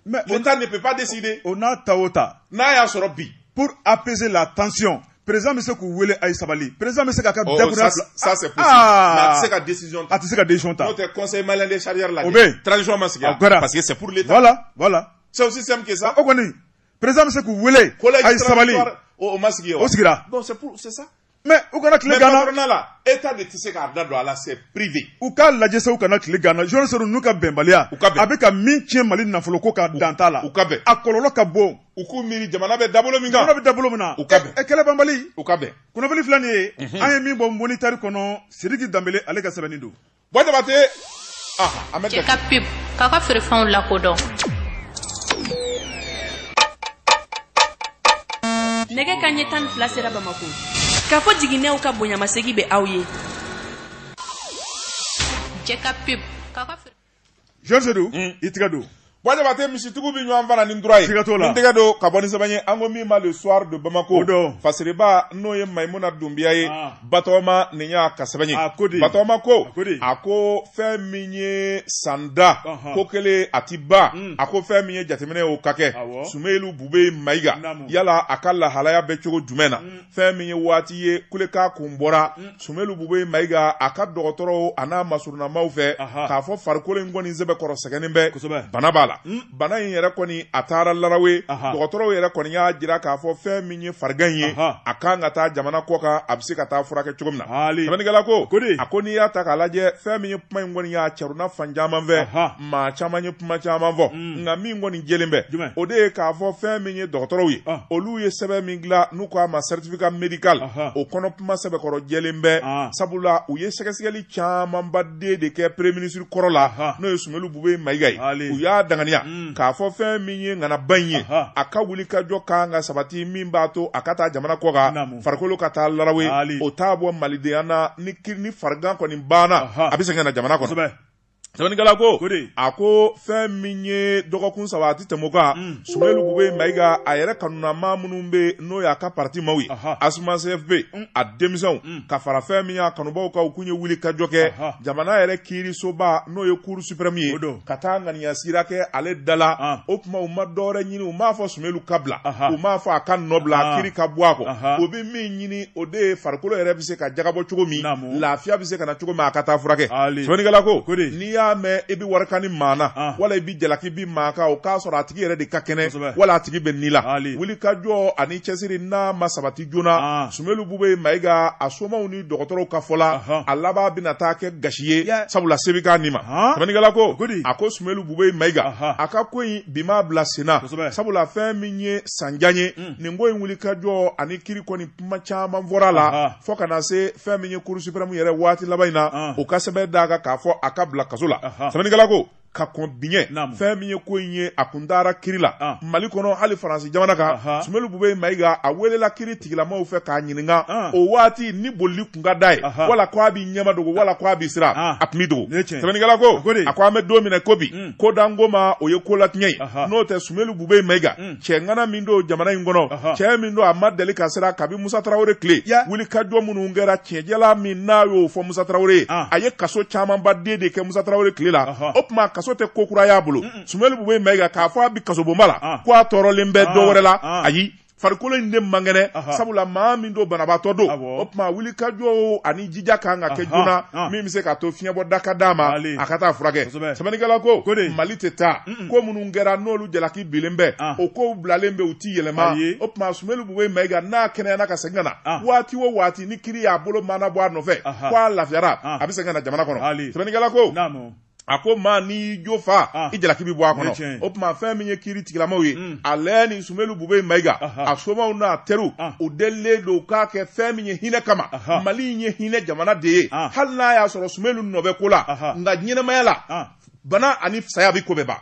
mais l'État ne peut pas décider o n'a ta o ta n'a y'a sɔrɔ bi pour apaiser la tension président bɛ se k'u wele a ye sabali président bɛ se k'a ka oh, dakunda ça, ça c'est possible ah. mais a tɛ se ka décision ta a tɛ se ka décision ta n'o tɛ conseil malien des chargeurs la o bɛ yen transition ma sigi a kɛra parce que c'est pour l'État voilà voilà c'est aussi simple que ça o kɔni président bɛ se k'u wele a ye sabali o ma sigi o sigira donc c'est pour c'est ça mais u kana tile gan an na mais là état de tɛ se k'a da don a la c'est privé u k'a lajɛ sa u kana tile gan an na John Seydou n'u ka bɛnbaliya u ka bɛn a bɛ ka min tiɲɛ mali nafolo ko kan dan t'a la u ka bɛn a kɔlɔlɔ ka bon u k'u miiri jamana bɛ dabolo min kan jamana bɛ dabolo min na u ka bɛn ɛ kɛlɛ banbali u ka bɛn kunnafoni filɛ nin ye an ye min bɔ monitari kɔnɔ sidiki danbele ale ka sɛbɛnni don Buwa Jabate an bɛ ka pe k'a ka feerefɛnw lakodɔn nɛgɛ kanɲɛ tan ni fila sera bamakɔ Kafo Jiginɛw ka bonyamasegin bɛ aw ye Jɛka pub Jɔn Sedu i tɛgɛ don Buwa Jabate misitigiw bɛ ɲɔgɔn fana ni ntura ye, siga t'o la, n'i tɛgɛ don ka bɔ ni sɛbɛn ye an ko min ma le soir de Bamako o don fasiriba n'o ye Mayimuna Dunbiya ye ah. Batɔgɔma nin y'a ka sɛbɛn ye ah, Batɔgɔma ko a ko fɛn min ye sanda ko kelen a ti ban hmm. a ko fɛn min ye jateminɛ ye o ka kɛ Sumeyilu Bube Mayiga yala a ka lahalaya bɛ cogo jumɛn na hmm. fɛn min ye waati ye kulekan kun bɔra mm. sumelu bube mayiga a ka dɔgɔtɔrɔw an'a masurunamaw fɛ k'a fɔ farikolo in kɔni sɛbɛ kɔrɔ sɛgɛnnen bɛ bana b'a la mm. bana in yɛrɛ kɔni a taara larawe dɔgɔtɔrɔw yɛrɛ kɔni y'a jira k'a fɔ fɛn min ye farigan ye a kan ka taa jamana kɔ kan a bɛ se ka taa furakɛ cogo min na sɛbɛnnikɛla ko a ko n'i y'a ta k'a lajɛ fɛn min ye kuma in kɔni y'a cɛruna fan caman fɛ maa caman ye kuma caman fɔ mm. nka min kɔni jɛlen bɛ o de ye k'a fɔ fɛn min ye dɔgɔtɔrɔw ye ah. olu ye sɛbɛn min dilan n'u k'a ma certificat médical o kɔnɔ kuma sɛbɛkɔrɔ jɛlen bɛ ah. sabula u ye sɛgɛsɛgɛli camanba de de kɛ premier ministre kɔrɔ la n'o ye sumelu bube mayiga ye u y'a danganiya mm. k'a fɔ fɛn min ye ŋanaba in ye a ka wuli ka jɔ kan ka sabati min b'a to a ka taa jamana kɔ kan farikolo ka taa larawe o t'a bɔ malidenya na ni farigan kɔni banna a bɛ segin ka na jamana kɔnɔ sɛbɛnnikɛla ko a ko fɛn min ye dɔgɔkun saba a tɛ tɛmɛ o kan mm. sumelu bube mayiga a yɛrɛ kanunamaa minnu bɛ n'o y'a ka pariti maaw ye ASMA CFP mm. a denmisɛnw mm. ka fara fɛn min y'a kanubaaw kan u kun ye wuli ka jɔ kɛ jamana yɛrɛ kiirisoba n'o ye cour suprême ye ka taa ŋaniya sira kɛ ale da la ah. o tuma u ma dɔwɛrɛ ɲini u m'a fɔ sumelu ka bila u m'a fɔ a ka nɔ bila ah. kiiri ka bɔ a kɔ u bɛ min ɲini o de ye farikolo yɛrɛ bɛ se ka jagabɔ cogo min lafiya bɛ se ka na cogo min a ka taa furakɛ sɛbɛnnikɛla ko n'i y'a mɛn i bɛ wari kani maa na ah. wala i bɛ jalaki bin maa kan o k'a sɔrɔ a tigi yɛrɛ de ka kɛnɛ wala a tigi bɛ ni la wuli ka jɔ ani cɛsiri n'a ma sabati joona ah. sumelu bube mayiga a somaw ni dɔgɔtɔrɔw ka fɔ la a laban bɛna taa kɛ gasi ye sabula se bɛ k'a ni ma sɛbɛnnikɛla ko a ko sumelu bube mayiga a ka ko in bi m'a bila senna sabula fɛn min ye sanjan ye mm. nin ko in wuli ka jɔ ani kiiri kɔni kuma caman fɔra a la fo ka na se fɛn min ye cour suprême yɛrɛ waati laban in na o ka sɛbɛn d'a kan k'a fɔ a ka bila kaso la sɛbɛnnikɛla ko ka kɔn bi ɲɛ fɛn min ye ko in ye a kun taara kiiri la mali kɔnɔ hali faransi jamana kan sumelu bube mayiga a welela kiiri tigilamaw fɛ k'a ɲininka o waati ni bolili kun ka d'a ye wala ko a b'i ɲɛma dogo wala ko a bi siran a tun b'i dogo sɛbɛnnikɛla ko a ko an bɛ don min na i ko bi ko danko ma o ye ko latiɲɛ ye n'o tɛ sumelu bube mayiga cɛ ŋana min don jamana in kɔnɔ cɛ min don a ma deli ka siran kabi musa tarawele tile wuli ka jɔ minnu kɛra tiɲɛjɛla min n'a y'o fɔ musa tarawele ah. a ye kaso camanba de kɛ musa tarawele tile la o tuma kaso tɛ ko kura y'a bolo sumelu bube mayiga k'a fɔ a bi kasobonba la ah. ko a tɔɔrɔlen bɛ ah. dɔ wɛrɛ la ayi farikolo in de man kɛnɛ sabula maa min don banabaatɔ don o tuma wuli ka jɔ ani jija kan ka kɛ joona min bɛ se k'a to fiɲɛbɔda ka d'a ma a ka taa furakɛ sɛbɛnnikɛla ko mali tɛ taa ko minnu kɛra n'olu jalaki bilen bɛ ah. o kow bilalen bɛ u ti yɛlɛma o tuma sumelu bube mayiga n'a kɛnɛyana ka segin ka na ah. waati o waati ni kiiri y'a bolo maana bɔ a nɔfɛ ko a lafiyara ah. a bɛ segin ka na jamana kɔnɔ sɛbɛnnikɛla ko a ko maa n'i y'i jo fa ah. i jalaki bɛ bɔ a kɔnɔ o tuma fɛn min ye kiiritigilamaw ye mm. ale ni sumelu bube mayiga a somaw n'a teriw ah. u delilen don k'a kɛ fɛn min ye hinɛ kama mali in ye hinɛ jamana de ye ah. hali n'a y'a sɔrɔ sumelu nɔ bɛ ko la nka ɲɛnamaya la bana ani saya bɛ ko bɛɛ ban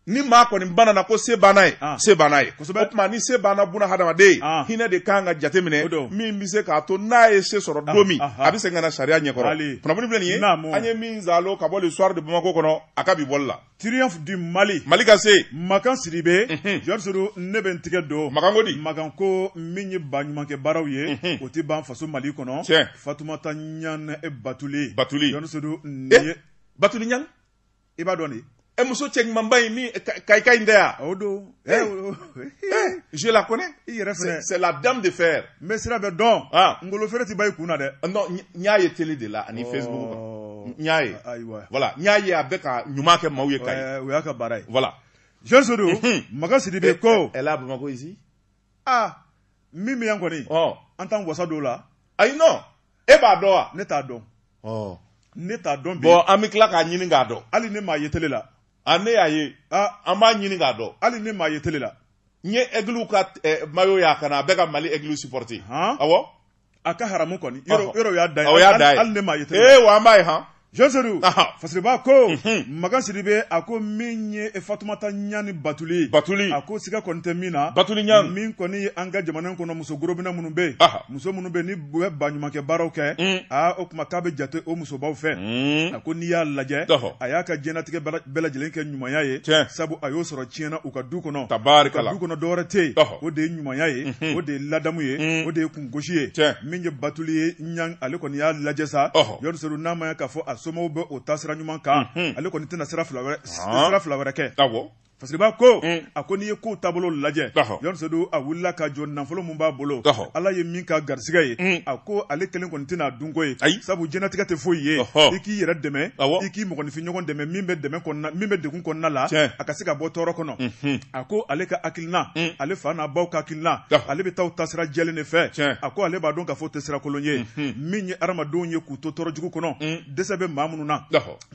ni maa kɔni banana ko se banna ye ah. se banna ye o tuma ni se banna buna hadamaden ah. hinɛ de kan ka jateminɛ min bɛ se k'a to n'a ye se sɔrɔ don ah, min a bɛ segin ka na sariya ɲɛkɔrɔ kunnafoni filɛ nin ye an ye min zalo ka bɔ le soir de Bamako kɔnɔ a ka bi bɔli la triomphe du Mali Mali ka se Makan Sidibe mhm. Jɔrisoro ne bɛ n tigɛ don Makan ko di Makan ko min ye baɲumankɛ baaraw ye mhm. o tɛ ban faso Mali kɔnɔ Fatumata Ɲane Batuli Batuli Jɔrisoro nin ye eh. batuli ɲane i b'a dɔn dɛ muso cɛɲumanba in min kayika in tɛ ya o don je la connais i yɛrɛ fɛnɛ c'est la dame de fer n bɛ sira bɛɛ dɔn ah. ngolo feere ti ba i kun na dɛ ah, non n y'a ye télé de la ani oh. facebook kan n y'a ye voilà n y'a ye a bɛ ka ɲuman kɛ maaw ye kayi o y'a ka baara ye voilà jean sedu makan sidibe ko elle a bamakɔ ici aa min bɛ yan kɔni ɔ an t'an wasa don o la ayi non e b'a dɔn wa ne t'a dɔn ɔ ne t'a dɔn bi bon an bɛ tila k'a ɲini k'a dɔn hali ne m'a ye tele la a ne y'a ye aa an b'a ɲini k'a dɔn hali ne m'a ye tele la n ye ɛgiliw ka eh, mayo y'a kan na a bɛ ka mali ɛgiliw supporte han awɔ a ka haramu kɔni yɔrɔ y'a da ye y'a da ye hali ne m'a ye ee wa an b'a ye han jɔsɛdu fasiriba ko mhm. makan sidibe a ko min ye fatumata ɲani batuli batuli a ko siga kɔni tɛ min na batuli ɲani min kɔni ye an ka jamana in kɔnɔ muso gorobinɛ minnu bɛ yen muso minnu bɛ yen n'u bɛ baɲumankɛ baaraw kɛ mm. aa o tuma k'a bɛ jate o musobaw fɛ mm. a ko n'i y'a lajɛ a y'a ka diɲɛnatigɛ bɛɛ lajɛlen kɛ ɲumanya ye sabu a y'o sɔrɔ tiɲɛ na u ka du kɔnɔ tabaarikala ka du kɔnɔ dɔwɛrɛ tɛ yen o de ye ɲumanya ye o de ye ladamu ye o de ye kungosi ye min ye batuli ye ɲ ale kɔni y'a lajɛ sa yɔrɔ sɔrɔ n'a ma k'a fɔ a somaw bɛ o taasira ɲuman kan ale kɔni tɛna sira fila wɛrɛ kɛ fasiriba ko a ko n'i ye kow taabolo lajɛ yɔrɔdu a wulila ka jɔ nafolo min b'a bolo ala ye min ka garisɛgɛ ye a ko ale kelen kɔni tɛn'a dun koyi ayi sabu diɲɛnatigɛ tɛ foyi ye i k'i yɛrɛ dɛmɛ i k'i mɔgɔninfinɲɔgɔn dɛmɛ min bɛ degun kɔnɔna la a ka se ka bɔ tɔɔrɔ kɔnɔ a ko ale ka hakilina mm. ale fa n'a baw ka hakilina ale bɛ taa taasira jɛlen de fɛ a ko ale b'a dɔn k'a fɔ taasira kolon ye mm-hmm. min ye adamadenw ye k'u to tɔɔrɔ jugu kɔnɔ mm. dɛsɛ bɛ maa minnu na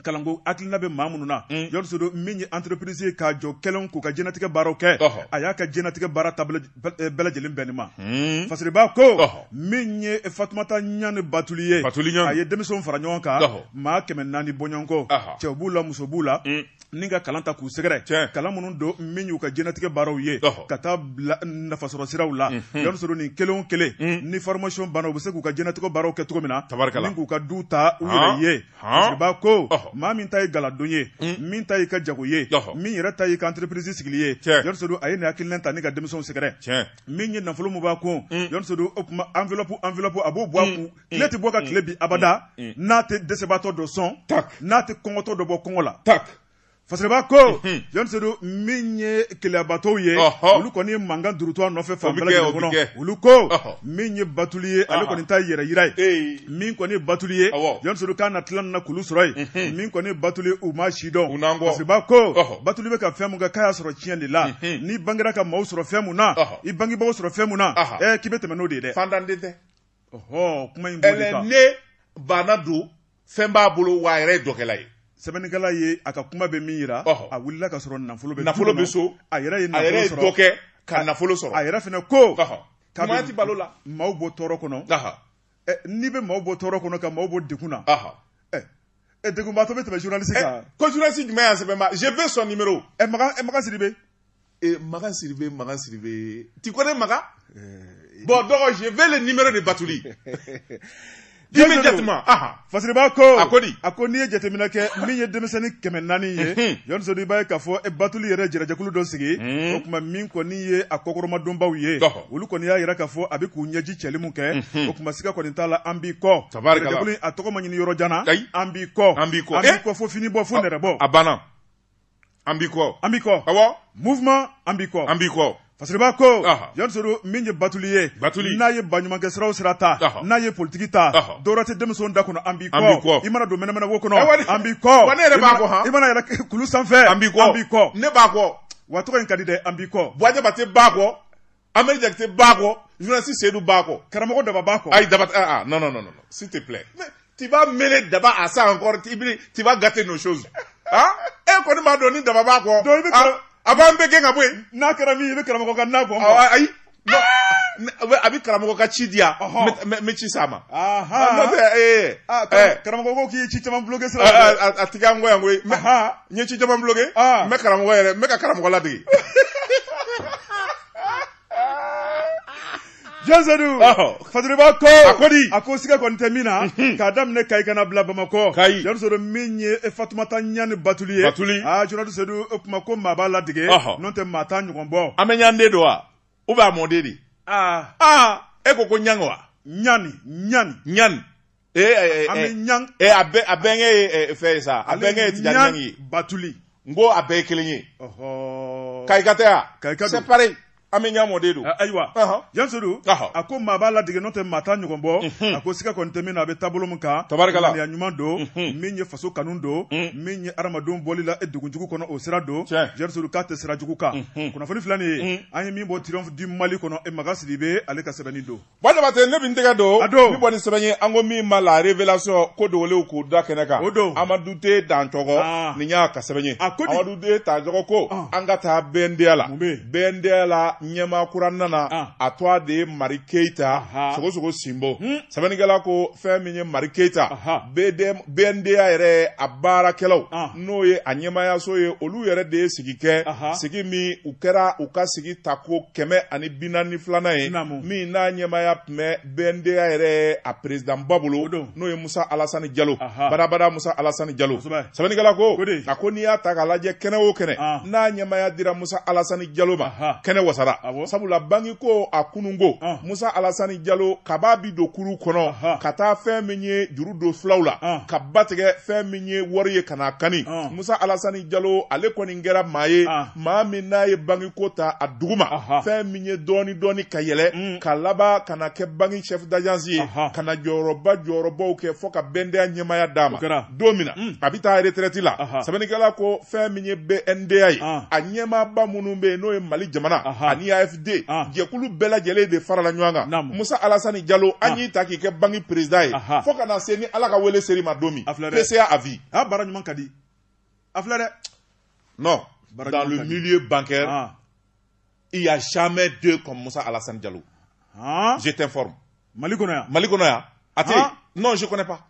kalanko hakilina bɛ maa minnu na mm. yɔrɔ sɔrɔ min ye entreprise ye k'a jɔ kelen k'u ka jɛnatigɛ baaraw kɛ a y'a ka jɛnatigɛ baara ta eh, bɛɛ lajɛlen bɛn nin ma hmm. fasiriba ko min ye fatumata ɲani batuli ye a ye denmisɛnw fara ɲɔgɔn kan maa kɛmɛ naani bɔɲɔgɔnko cɛw b'u la muso b'u la hmm. ni ka kalan ta k'u sɛgɛrɛ kalan minnu don min y'u ka jɛnɛtigɛ baaraw ye ka taa bila nafasɔrɔ siraw la yɔrɔ sɔrɔ nin kelen o kelen ni formation banna u bɛ se k'u ka jɛnɛtigɛ baaraw kɛ cogo min na ni k'u ka du ta u yɛrɛ ye fasiriba ko maa min ta ye galadon ye min ta y'i ka jago ye min yɛrɛ ta y'i ka entreprise sigili ye yɔrɔ a ye nin hakilina ta ni ka denmisɛnw sɛgɛrɛ min ye nafolo min b'a ko yɔrɔ o tuma enveloppe enveloppe a b'o bɔ a kun tile tɛ bɔ ka tile bin abada n'a tɛ dɛsɛbaatɔ dɔ sɔn n'a tɛ kɔngɔtɔ dɔ bɔ kɔngɔ la fasiriba ko yɔrɔ sɔrɔ min ye keleyabaatɔw ye olu kɔni ye mankan duurutu nɔfɛ fan kɔnɔ olu ko min ye batuli ye ale kɔni ta yɛrɛ yira ye min kɔni ye batuli ye yɔrɔ sɔrɔ kan na tila na kulu sɔrɔ yen min kɔni ye batuli u m'a sidɔn fasiriba ko batuli bɛ ka fɛn min kɛ k'a y'a sɔrɔ tiɲɛ de la n'i bangera ka maaw sɔrɔ fɛn min na i bangebagaw sɔrɔ fɛn min na ɛ k'i bɛ tɛmɛ n'o de ye dɛ ɔhɔn kuma in b'o de kan ne baana don fɛn b'a bolo wa a yɛrɛ ye dɔkɛla ye sɛbɛnnikɛla ye a ka kuma bɛ min yira a wulila ka sɔrɔ nafolo bɛ nafolo bɛ so a yɛrɛ ye nafolo sɔrɔ dɔ kɛ ka nafolo sɔrɔ a yɛrɛ fana ko maa ti balo la maaw bɔ tɔɔrɔ kɔnɔ n'i bɛ maaw bɔ tɔɔrɔ kɔnɔ ka maaw bɔ degun na ɛ degunbaatɔ bɛ tɛmɛ journaliste kan ko journaliste jumɛn y'a sɛbɛn moi je veux son numéro ɛ Makan Sidibe Et Makan Sidibe, Makan Sidibe. Tu connais Makan euh, Bon, donc je veux le numéro de Batuli. immédiatement aha fasiriba ko a ko di a ko n'i ye jateminɛ kɛ min ye denmisɛnni kɛmɛ naani ye yɔrɔ sɔrɔ i b'a ye k'a fɔ e batuli yɛrɛ jɛrɛjɛkulu dɔ sigi o tuma min kɔni ye a kɔkɔrɔmadonbaw ye olu kɔni y'a yira k'a fɔ a bɛ k'u ɲɛji cɛli min kɛ o tuma siga kɔni t'a la an b'i kɔ jɛrɛjɛkulu a tɔgɔ ma ɲini yɔrɔ jan na an b'i kɔ an b'i kɔ fo finibɔ fo nɛrɛbɔ a banna an b'i kɔ an b'i kɔ awɔ mouvement an b'i kɔ an b'i kɔ Fasiriba ko yɔrɔ sɔrɔ min ye batuli ye batuli n'a ye baɲumankɛ sira o sira ta n'a ye politiki ta dɔwɛrɛ tɛ denmisɛnw da kɔnɔ an b'i kɔ i mana don mɛnɛmɛnɛ wo kɔnɔ an b'i kɔ wa ne yɛrɛ b'a kɔ han i mana yɛlɛn kulu sanfɛ an b'i kɔ an b'i kɔ ne b'a kɔ wa tɔgɔ in ka di dɛ an b'i kɔ Buwa Jabate b'a kɔ Amel Diakité b'a kɔ journaliste Seydou b'a kɔ karamɔgɔ Daba b'a kɔ ayi Daba ah ah non non non non s'il te plaît mais tu vas mêler Daba à ça encore tu bɛ tu vas gâter nos choses ah e kɔni b'a dɔn ni Daba b'a kɔ donc i bɛ ah, a b'an bɛɛ gɛn ka bɔ yen n'a kɛra min ye i bɛ karamɔgɔ ka na kɔ ah, ayi non ah! a bɛ karamɔgɔ ka ci di yan n bɛ ci s'a ma n'o tɛ ee karamɔgɔ ko k'i ye ci caman bloqué sira a tigi an ko yan koyi n ye ci caman bloke n bɛ karamɔgɔ yɛrɛ n bɛ ka karamɔgɔ ladege jɛnsɛdu fatureba ko a ko di a ko siga kɔni tɛ min na mhm. k'a daminɛ kayi ka na bila bamakɔ kayi jɛnsɛdu min ye e fatumata ɲani batuli ye batuli aa jɔnadu sedu o kuma ko maa b'a ladege n'o tɛ maa t'a ɲɔgɔn bɔ an bɛ ɲan den don wa ou bien a mɔden de aa aa e ko ko ɲangi wa ɲani ɲani ɲani ee ee an bɛ ɲan ee a bɛɛ a bɛnkɛ ye eh, fɛn ye sa a bɛnkɛ ye tijani ɲangi ye batuli n ko a bɛɛ ye kelen ye ɔhɔ kayika tɛ yan Kayika don. c'est pareil an bɛ ɲan mɔden don A- ayiwa Ɔhɔ. jɛnsɛdu Ɔhɔ. a ko maa b'a ladege n'o tɛ maa t'a ɲɔgɔn bɔ a ko siga kɔni tɛ min na a bɛ taabolo min kan Tabarikala. ŋaniya ɲuman don min ye faso kanu don min ye adamadenw bɔli la e dugunjugu kɔnɔ o sira don Tiɲɛ. jɛnsɛdu k'a tɛ sira jugu kan kunnafoni filɛ nin ye an ye min bɔ triomphe du mali kɔnɔ e magan sidibe ale ka sɛbɛnni don Buwa Jabatɛ ne bɛ n tɛgɛ don ni bɔ ni sɛbɛn ye an ko min ma la revelation ko dogolenw k'u da kɛnɛ kan Amadu T Dansɔgɔ nin y'a ka sɛbɛn ye Amadu T Dansɔgɔ ko an ka taa BNDA la BNDA la ɲɛmaa kura nana a tɔgɔ de ye Mari Keyita sogo sogo sinbo sɛbɛnnikɛla ko fɛn min ye Mari Keyita BDM bnda yɛrɛ a baarakɛlaw ah. n'o ye a ɲɛmaayaso ye olu yɛrɛ de ye sigi kɛ sigi min u kɛra u ka sigi tako kɛmɛ ani bi naani ni filanan ye min n'a ɲɛmaaya tun bɛ bnda yɛrɛ a perezidanba bolo n'o ye musa alasani jalo badabada musa alasani jalo sɛbɛnnikɛla ko a ko n'i y'a ta k'a lajɛ kɛnɛ o kɛnɛ ah. n'a ɲɛmaaya dira musa alasani jalo ma kɛnɛ wasara sabula bangi ko a kunun ko ah. musa alasani jalo kabaa bi don kurun kɔnɔ ka taa fɛn min ye juru don fulaw la ka ba tigɛ fɛn min ye wari ye ka na kani musa alasani jalo ale kɔni kɛra maa ye maa min n'a ye banki ko ta a duguma fɛn min ye dɔɔni dɔɔni ka yɛlɛ mm. ka laban ka na kɛ banki chef d'agence ye ka na jɔyɔrɔba jɔyɔrɔbaw kɛ fɔ ka bnda ɲɛmaaya d'a ma don min na mm. a bɛ taa retraite la sɛbɛnnikɛla ko fɛn min ye bnda ye a ɲɛmaaba minnu bɛ yen n'o ye mali jamana ani af d ah. jɛkulu bɛɛ lajɛlen de farala ɲɔgɔn kan musa alasani jalo an ah. y'i ta k'i kɛ bangi perezidan ye fo ka na se ni ala ka wele sera i ma don min pca à vie a ah, baara ɲuman ka di a filɛ dɛ non dans le milieu bancaire il y a jamais deux comme musa alasani jalo je t'informe mali kɔnɔ yan mali kɔnɔ yan a tɛ non je connais pas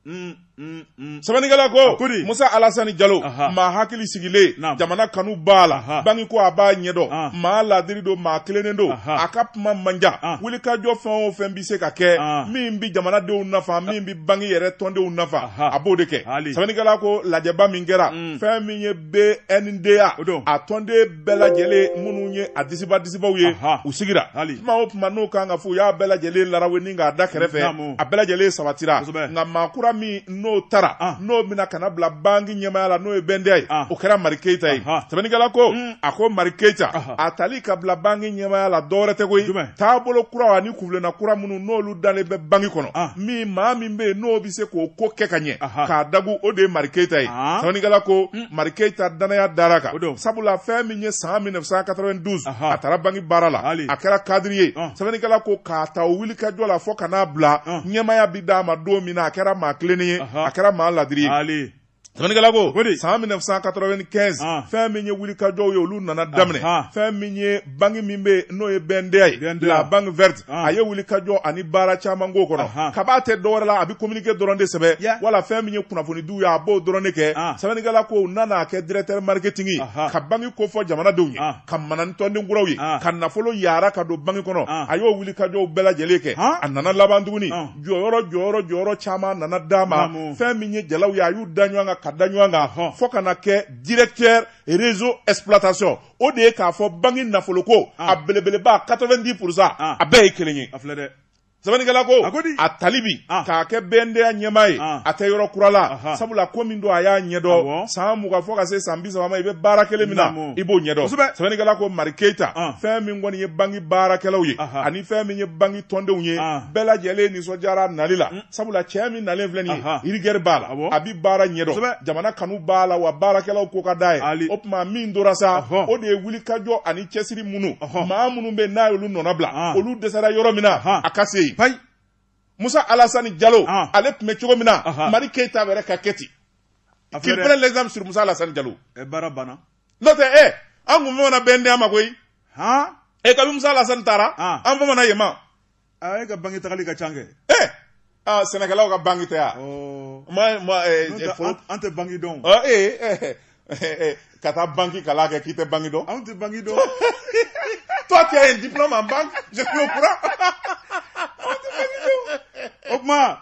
Mm, mm, mm. sɛbɛnnikɛla ko musa alasani jalo maa hakili sigilen jamana kanu b'a la bangi ko a b'a ɲɛdɔn ah. maa ladiri don maa tilennen don a ka kuma man ca ah. wulikajɔ fɛn o fɛn bɛ se ka kɛ ah. min bɛ jamanadenw nafa min bɛ bangi yɛrɛ tɔndenw nafa a b'o de kɛ sɛbɛnnikɛla ko lajɛba min kɛra fɛn min ye BNDA, o don, a tɔnden bɛɛ lajɛlen minnu ye a disiba disibaw ye, anhan, u sigira, hali, kuma o kuma n'o kan ka fɔ u y'a bɛɛ lajɛlen laraweni k'a da kɛrɛfɛ, naamu, a bɛɛ lajɛlen sabatira, kosɛbɛ, nka maa kura min n'o tara, an, n'o bɛna ka na bila banki ɲɛmaaya la n'o ye BNDA ye, an, o kɛra Mari Keyita ye, anhan, sɛbɛnnikɛla ko, un, a ko Mari Keyita, anhan, a tali ka bila banki ɲɛmaaya la dɔwɛrɛ tɛ koyi, jumɛn, taabolo kura ani kunfilenna kura minnu n'olu dalen bɛ banki kɔnɔ, an, min maa min bɛ yen n'o bɛ se k'o ko kɛ ka ɲɛ k'a dagun o de ye mari keyita ye sɛbɛnnikɛla ko hmm. mari keyita dannaya dar'a kan sabula fɛn min ye san 1992 a taara banki baara la a kɛra kadiri ye sɛbɛnnikɛla ko k'a ta o wulikajɔ la fo ka n'a bila ɲɛmaaya bi d'a ma don min na a kɛra maa tilennen ye a kɛra maa ladiri ye Sɛbɛnnikɛla ko, o de, san 1995 , an, fɛn min ye wulikajɔw ye olu nana daminɛ, anhan, fɛn min ye banki min bɛ yen n'o ye BNDA ye, BNDA, la banque verte an, a ye wulikajɔ ani baara caman k'o kɔnɔ, anhan, kaba a tɛ dɔwɛrɛ la a bɛ communiqué dɔrɔn de sɛbɛn, ya, wala fɛn min ye kunnafonidiw ye a b'o dɔrɔn de kɛ, an, sɛbɛnnikɛla ko u nana a kɛ directeur marketing ye, anhan, ka banki kofɔ jamanadenw ye, an, ka mana ni tɔnden kuraw ye, an, ka nafolo yaara ka don banki kɔnɔ, an, a y'o wulikajɔw bɛɛ lajɛlen kɛ, han, a nana laban tuguni, an. jɔyɔrɔ jɔyɔrɔ jɔyɔrɔ caman nana d'a ma fɛn min ye jalaw ye a y'u da ɲɔgɔn kan ka da ɲɔgɔn kan fo ka na kɛ directeur réseau exploitation o de ye k'a fɔ banki nafoloko a belebeleba 90 pourcent a bɛɛ ye kelen ye sɛbɛnnikɛla ko a tali bi ah. k'a kɛ BNDA ɲɛmaa ye ah. a tɛ yɔrɔ kura la sabula ko min don a y'a ɲɛdɔn san mugan fo ka se san bi saba ma i bɛ baara kelen min na i b'o ɲɛdɔn sɛbɛnnikɛla ko mari keyita ah. fɛn min kɔni ye bangi baarakɛlaw ye ani fɛn min ye bangi tɔndenw ye ah. bɛɛ lajɛlen nisɔndiyara nali la mm. sabula cɛ min nalen filɛ nin ye rigueur b'a la a bɛ baara ɲɛdɔn jamana kanu b'a la wa baarakɛlaw ko ka d'a ye o tuma min tora sa o de ye wulikajɔ ani cɛsiri minnu maa minnu bɛ n'a y'olu nɔnabila ah. olu dɛsɛra yɔrɔ min na a ka se yen musa alasani jalo ah. ale tun bɛ cogo min na mari keyita yɛrɛ ka kɛ ten qu'il prenne l'exemple sur musa alasani jalo eh, baara banna n'o tɛ e an kun banna BNDA ma koyi e kabi musa alasani taara an banna yen ma e ka banki tagali ka ca kɛ e sɛnɛkɛlaw ka banki tɛ ya oh. an tɛ banki dɔn ee ka taa banki kalan kɛ k'i tɛ banki dɔn anw tɛ banki dɔn toi tu as un diplôme en banque je suis au courant anw tɛ banki dɔn o tuma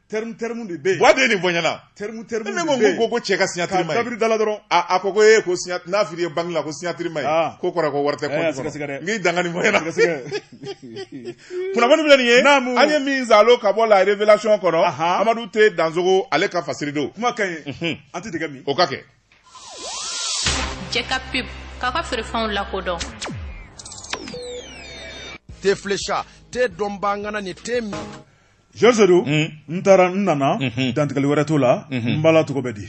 terme terme de bɛ yen wa de ye nin fɔ n ɲɛna terme terme de bɛ yen ne ko ko cɛ ka signature ma ɲi kabiri dala dɔrɔn a a ko ko ee ko signature n'a fili ye banque la ko signature ma ɲi ko kɔrɔ ko wari tɛ compte kɔnɔ n k'i danga nin fɔ n ɲɛna kunnafoni filɛ nin ye an ye min zalo ka bɔ la révélation kɔnɔ Amadu T Dansogo ale ka fasiri don kuma ka ɲi an tɛ dɛgɛ min o ka kɛ jɛ ka pub k'a ka feerefɛnw lakodɔn te Flecha te dɔnbangana ni te Jose don mm. n taara n nana mhm. dantigɛli wɛrɛ t'o la mhm. n b'a la tɔgɔ bɛ di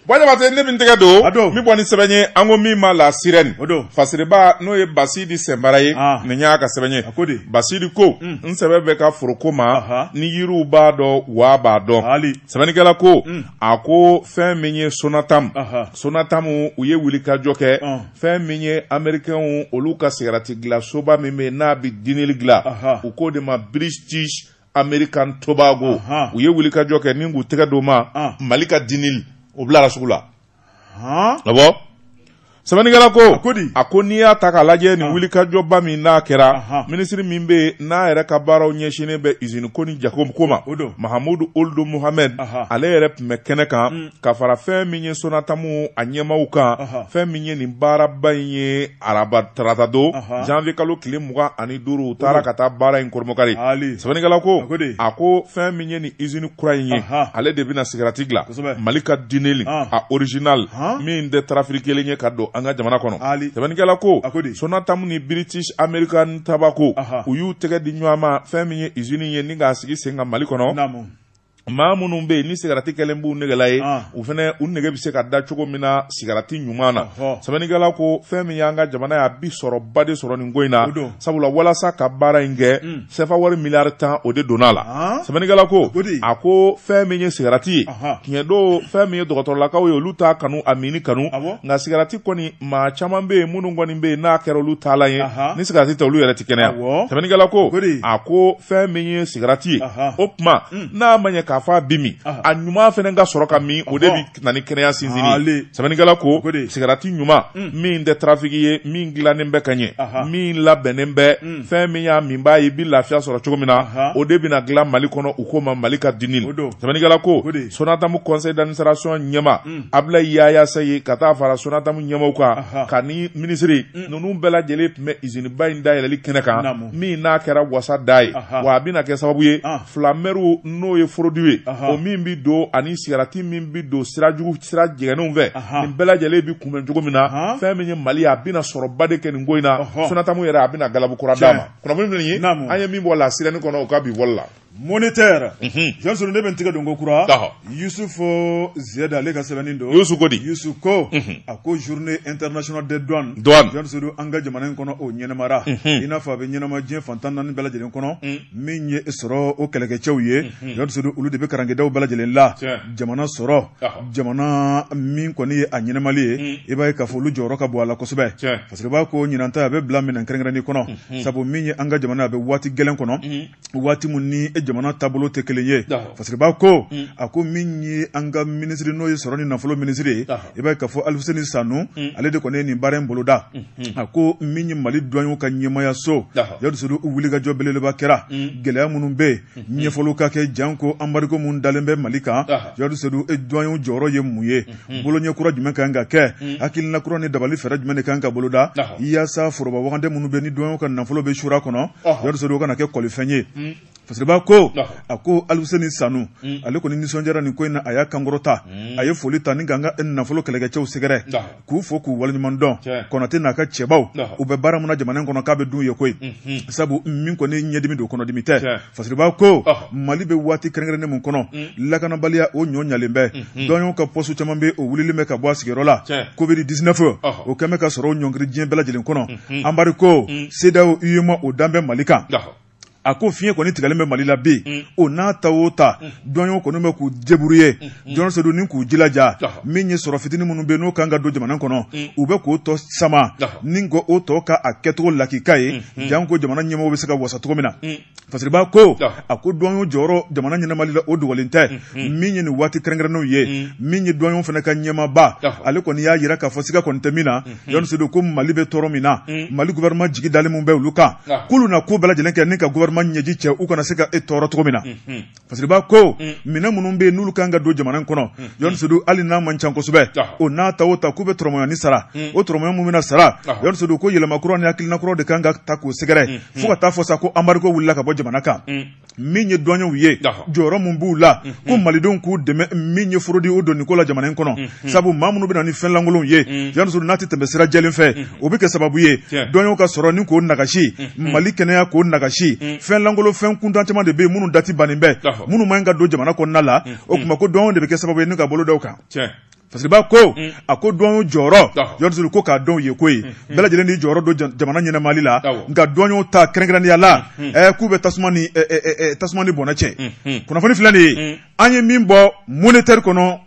Bwa Jabate ne bɛ n tɛgɛ don a don n bɛ bɔ ni sɛbɛn ye an ko min ma la sirɛni o don fasiriba n'o ye basidi sɛnbara ye ah. nin y'a ka sɛbɛn ye a ko de basidi ko mm. n sɛbɛn bɛ ka foroko ma ni yiriw b'a dɔn wa b'a dɔn hali sɛbɛnnikɛla ko mm. a ko fɛn min ye sonatam sonatamu u ye wulikajɔ kɛ ah. fɛn min ye amerikɛnw olu ka sigarati dilan soba min bɛ n'a bɛ dinili dilan u k'o de ma british american tobacco u ye wulikajɔ kɛ ni k'u tɛgɛ don ma ah. mali ka dinili o bilara sugu la la a bɔ sɛbɛnnikɛla ko a ko n'i y'a ta k'a lajɛ nin ah. wulikajɔba min n'a kɛra minisiri min bɛ n'a yɛrɛ ka baaraw ɲɛsinnen bɛ izini ko ni jago ko ma mahamudu ould muhamɛd ale yɛrɛ tun bɛ kɛnɛ kan mm. ka fara fɛn min ye sonatamu a ɲɛmaw kan fɛn min ye nin baaraba in ye araba tarata don janvier kalo tile mugan ani duuru u taara ka taa baara in kurunbonkari sɛbɛnnikɛla ko a ko fɛn min ye nin izini kura in ye ale de bɛna sigarati dilan mali ka dinili a original min tɛ tarafikelen ye ka don an ka jamana kɔnɔ sɛbɛnnikɛla ko sonatamu ni british american tobacco u y'u tɛgɛ di ɲɔgɔn ma fɛn min ye izini ye ni k'a sigi sen kan mali kɔnɔ maa minnu bɛ yen ni sigarati kɛlen b'u negela ye ah. u fana u nege bɛ se ka da cogo min na sigarati ɲuman na sɛbɛnnikɛla ko fɛn min y'an ka jamana ye a bi sɔrɔba de sɔrɔ nin ko in na sabula walasa ka baara in kɛ hmm. sefa wari miliyari tan o de donna a la ah. sɛbɛnnikɛla ko a ko fɛn min ye sigarati ye tiɲɛ don fɛn min ye dɔgɔtɔrɔlakaw ye olu t'a kanu a minni kanu nka sigarati kɔni maa caman bɛ yen minnu kɔni bɛ yen n'a kɛra olu taalan ye ni sigarati tɛ olu yɛrɛ tɛ kɛnɛya sɛbɛnnikɛla ko a ko fɛn min ye sigarati ye o tuma mm. n'a ma ɲɛ k'a fɔ a bi min a ɲuman fana ka sɔrɔ ka min o de bɛ na ni kɛnɛya sinsinni ye sɛbɛnnikɛla ko sigarati ɲuman mm. min tɛ tarafiki ye min dilannen bɛ ka ɲɛ min labɛnnen bɛ mm. fɛn min y'a minbaa ye bi lafiya sɔrɔ cogo min na o de bɛna dilan mali kɔnɔ u ko ma mali ka dinili sɛbɛnnikɛla ko sonatamu conseil d'administration ɲɛmaa abilayi yaya sɛki ka taa fara sonatamu ɲɛmaw kan ka ni minisiri ninnu bɛɛ lajɛlen tun bɛ iziniba in dayɛlɛli kɛnɛ kan min n'a kɛra wasa da ye wa a bɛna kɛ sababu ye filamɛriw n'o ye forodiw ye o min bɛ don ani sigarati min bɛ don sira jugu sira jɛgɛnenw fɛ nin bɛɛ lajɛlen bɛ kunbɛn cogo min na fɛn min ye mali a bɛna sɔrɔba de kɛ nin ko in na sonatamu yɛrɛ a bɛna galabu kura d'a ma kunnafoni min ye an ye min bɔ la sirɛni kɔnɔ o ka bi bɔli la moniteur mhm. Jose ne bɛ n tigɛ don ko kura Yusuf Ziyada ale ka sɛbɛnni don Yusuf ko di Yusuf ko mhm. a ko journée internationale des douanes douane Jose don an ka jamana in kɔnɔ o ɲɛnamara mhm. i n'a fɔ a bɛ ɲɛnama diɲɛ fan tan ni naani bɛɛ lajɛlen kɔnɔ min ye sɔrɔko kɛlɛkɛcɛw ye Jose don olu de bɛ karangedaw bɛɛ lajɛlen la jamana sɔrɔ jamana min kɔni ye a ɲɛnamali ye i b'a ye k'a fɔ olu jɔyɔrɔ ka bon a la kosɛbɛ parce que b'a ko ɲinan ta a bɛ bila minɛn kɛrɛnkɛrɛnnen kɔnɔ sabu min ye an ka jamana a bɛ waati gɛlɛn kɔnɔ waati min ni e jamana taabolo tɛ kelen ye fasiriba ko mm. a ko min ye an ka minisiri n'o ye sɔrɔ ni nafolo minisiri ye i b'a ye k'a fɔ aluseni sanu mm. ale de kɔni ye nin baara in boloda mm-hmm. a ko min ye mali duwanyew ka ɲɛmaya so yadu sedu wulikajɔ belebeleba kɛra mm. gɛlɛya minnu bɛ yen mm-hmm. ɲɛfɔliw ka kɛ janko anbarigo min dalen bɛ mali kan yadu sedu e duwanyew jɔyɔrɔ ye mun ye Hmm. bolo ɲɛ kura jumɛn kan ka kɛ hmm. hakilina kura ni dabali fɛɛrɛ jumɛn de kan ka boloda yaasa foroba wagande minnu bɛ ni duwanyew ka nafolo bɛ suuru a kɔnɔ yɔrɔ sedu o kana kɛ kɔlifɛn ye hmm. fasiriba ko a ko aluseni sanu ale kɔni nisɔndiyara nin ko in na a y'a kankɔrɔta a ye foli ta ni ka an ka nafolo kɛlɛkɛcɛw sɛgɛrɛ k'u fo k'u waleɲuman dɔn konate n'a ka cɛbaw u bɛ baara min na jamana kɔnɔ k'a bɛ dun ye koyi sabu min kɔni ɲɛdimi don kɔnɔdimi tɛ Fasiriba ko mali bɛ waati kɛrɛnkɛrɛnnen min kɔnɔ lakanabaliya o ɲɔ ɲalen bɛ duwanyew ka pɔsi caman bɛ o wulilen bɛ ka bɔ a sigiyɔrɔ la covid dix-neuf o kɛlen bɛ ka sɔrɔw ɲɔngiri diɲɛ bɛɛ lajɛlen kɔnɔ anbarigo cedeao uemoa o dalen bɛ mali kan a ko fiɲɛ kɔni tigɛlen bɛ mali la bi o n'a ta o ta duwanyew kɔni bɛ k'u débrouiller Mm. jɔn sedu ni k'u jilaja min ye sɔrɔ fitini minnu bɛ n'o kan ka don jamana kɔnɔ mm. u bɛ k'o tɔ sama ni k'o tɔ kɛ a kɛcogo lakika ye mm, janko jamana ɲɛmɔgɔw bɛ se ka wasa cogo min na fasiriba ko a ko duwanyew jɔyɔrɔ jamana ɲɛnamali la o dogolen tɛ min ye nin waati kɛrɛnkɛrɛnnenw ye min ye duwanyew fana ka ɲɛmaaba ale kɔni y'a jira k'a fɔ siga kɔni tɛ min na jɔn sedu ko mali bɛ tɔɔrɔ min na mali gouvernement jigi dalen min bɛ olu kan k'olu na ko bɛɛ lajɛlen kɛ ni ka gouvernement ɲɛji cɛ u kana se ka e tɔɔrɔ cogo min na Fasiriba ko minɛn minnu bɛ yen n'olu kan ka don jamana kɔnɔ yɔrɔ sedu hali n'a man ca kosɛbɛ o n'a ta o ta k'u bɛ dɔrɔmɛ naani sara o dɔrɔmɛ naani min bɛna sara yɔrɔ sedu ko yɛlɛma kura ni hakilina kura de kan ka ta k'u sɛgɛrɛ fo ka taa fɔ sa ko anbarigo wulila ka bɔ jamana kan min ye duwanyew ye jɔyɔrɔ min b'u la ko malidenw k'u dɛmɛ min ye forodi o donniko la jamana in kɔnɔ Hmm. sabu maa minnu bɛ na ni fɛn lankolonw ye hmm. yɔrɔ sedu n'a tɛ tɛmɛ sira jɛlen fɛ hmm. o bɛ kɛ sababu ye duwanyew ka sɔrɔ ni k'o nagasi mali kɛnɛya k'o nagasi fɛn lankolon fɛn kuntan caman de bɛ yen minnu dati bannen bɛ minnu man ka don jamana kɔnɔna la o tuma ko duwanyew de bɛ kɛ sababu ye ni ka bolo da u kan fasiriba ko mm. a ko duwanyew jɔyɔrɔ yɔrɔ sedu ko k'a dɔnw ye ko ye mm, mm. bɛɛ lajɛlen ni jɔyɔrɔ don jamana ɲɛnamali la nka duwanyew ta kɛrɛnkɛrɛnnenya la k'u bɛ tasuma ni bɔnɛ cɛ kunnafoni filɛ nin ye an ye min bɔ monitɛri kɔnɔ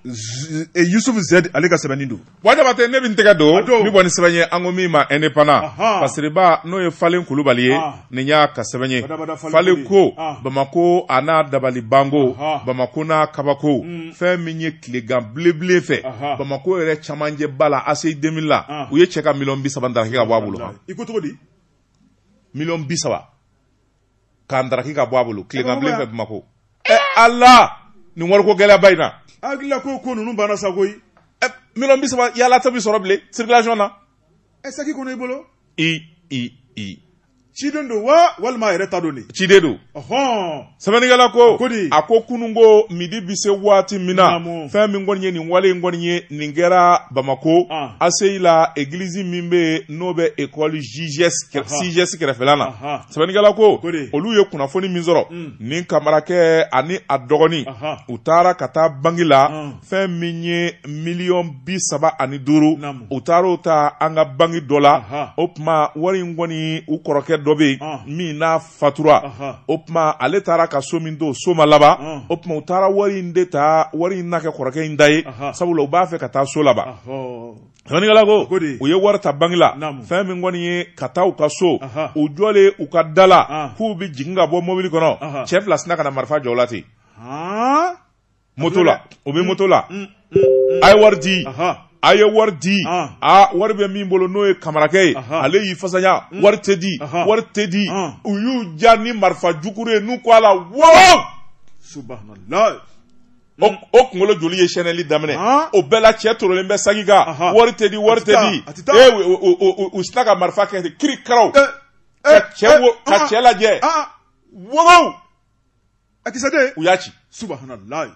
eh, yusufu zɛd ale ka sɛbɛnni don wa jabate ne bɛ n tɛgɛ don n bɛ bɔ ni sɛbɛn ye an ko min ma ɛndepandan fasiriba n'o ye falen kulubali ye nin y'a ka sɛbɛn ye falen ko bamako a n'a dabali banko bamako n'a kabako mm. fɛn min ye tilegan bilenbilen fɛ bamako yɛrɛ camancɛ ba la aseyi demili la u ye cɛ ka miliyɔn bi saba daraki ka bɔ a bolo miliyɔn bi saba k'a ndaraki ka bɔ a bolo tilegan bilen fɛ bamako ɛ eh, ala nin wariko gɛlɛyaba in na a hakilila ko ko ninnu banna sa koyi eh, miliyɔn bi saba yaalata bi sɔrɔ bilen circulation na ɛ eh, saki kɔnɔ i bolo i i i ciden don wa walima a yɛrɛ ta don de ciden don ɔhɔn sɛbɛnnikɛla ko kodi a ko kunun ko midi bi se waati min na fɛn min kɔni ye nin wale in kɔni ye nin kɛra bamako ah. aseyi la egilizi min bɛ n'o bɛ ekɔli jijɛsi kɛrɛfɛla na sɛbɛnnikɛla ko olu ye kunnafoni min sɔrɔ mm. nin kamarakɛ ani a dɔgɔnin u taara ka taa bangi la mm. fɛn min ye miliyɔn bi saba ani duuru u taara o ta an ka bangi dɔ la o tuma wari in kɔni u kɔrɔkɛ dɔ bɛ yen ah. min n'a fatura o tuma ale taara ka so min to so ma laban ah. o tuma u taara wari in de ta wari in na kɛ kɔrɔkɛ in ta ye sabula u b'a fɛ ka taa so laban sɛbɛnnikɛla ko u ye wari ta bangi la fɛn min kɔni ye ka taa u ka so u jɔlen u ka da la k'u bɛ jigin ka bɔ mobili kɔnɔ cɛ fila sina ka na marifa jɔ u la ten moto la u bɛ moto la a ye wari di a ye wari di aa wari bɛ min bolo n'o ye kamarakɛ ye ale y'i fasaya wari tɛ di wari tɛ di u y'u ja ni marifa jukuru ye n'u ko a la wa o kunkolo joli ye sɛɛnɛli daminɛ o bɛɛ la cɛ torolen bɛ saki kan wari tɛ di wari tɛ di u sina ka marifa kɛ ten kiri karaw ka cɛ wo ka cɛ lajɛ wogow a kisɛ de u y'a ci subahanallahi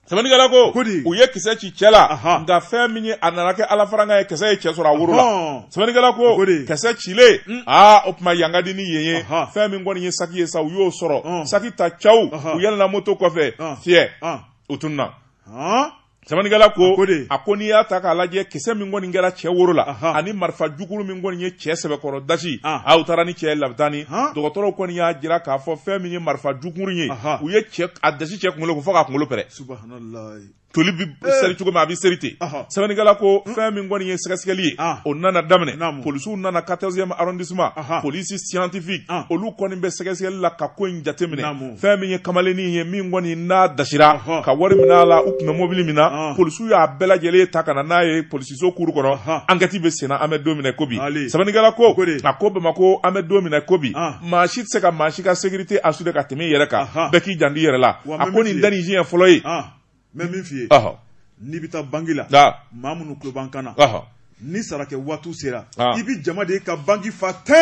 sɛbɛnnikɛla ko u ye kisɛ ci cɛ la nka fɛn min ye a nana kɛ ala farankan ye kisɛ ye cɛ sɔrɔ a woro la sɛbɛnnikɛla ko o de kɛsɛ cilen mm. aa o tuma yan ka di ni yen ye fɛn min kɔni ye saki ye sa u y'o sɔrɔ saki ta caw u yɛlɛnna moto kɔfɛ fiyɛ u tununna sɛbɛnnikɛla ko a ko n'i y'a ta k'a lajɛ kisɛ min kɔni kɛra cɛ woro la ani marifa jukuru min kɔni ye cɛ sɛbɛkɔrɔ dasi a u taara ni cɛ ye labitani dɔgɔtɔrɔw kɔni y'a jira k'a fɔ fɛn min ye marifa jukuru ye u ye a dasi cɛ kunkolo ko fo k'a kunkolo pɛrɛ joli bi eh. seri cogo min a bɛ seri ten sɛbɛnnikɛla ko hmm. fɛn min kɔni ye sɛgɛsɛgɛli ye ah. o nana daminɛ polisiw nana 14e arrondissement polisi scientifique ah. olu kɔni bɛ sɛgɛsɛgɛli la ka ko in jateminɛ fɛn min ye kamalennin ye min kɔni n'a dasira ka wari minɛ a la u tun bɛ mobili min na ah. polisiw y'a bɛɛ lajɛlen ta ka na n'a ye polisiso kuru kɔnɔ ankɛti bɛ senna an bɛ don min na ko bi sɛbɛnnikɛla ko a ko bamako an bɛ don min na ko bi maa si tɛ se ka maa si ka sécurité assurer ka tɛmɛ i yɛrɛ kan bɛɛ k'i janto i yɛrɛ la a ko nin danni ye fɔlɔ ye mɛ min f'i ye n'i bɛ taa bangi la maa minnu tulo b'an kan na ni sarakɛ waati sera i bɛ jama de ka bangi fa tɛ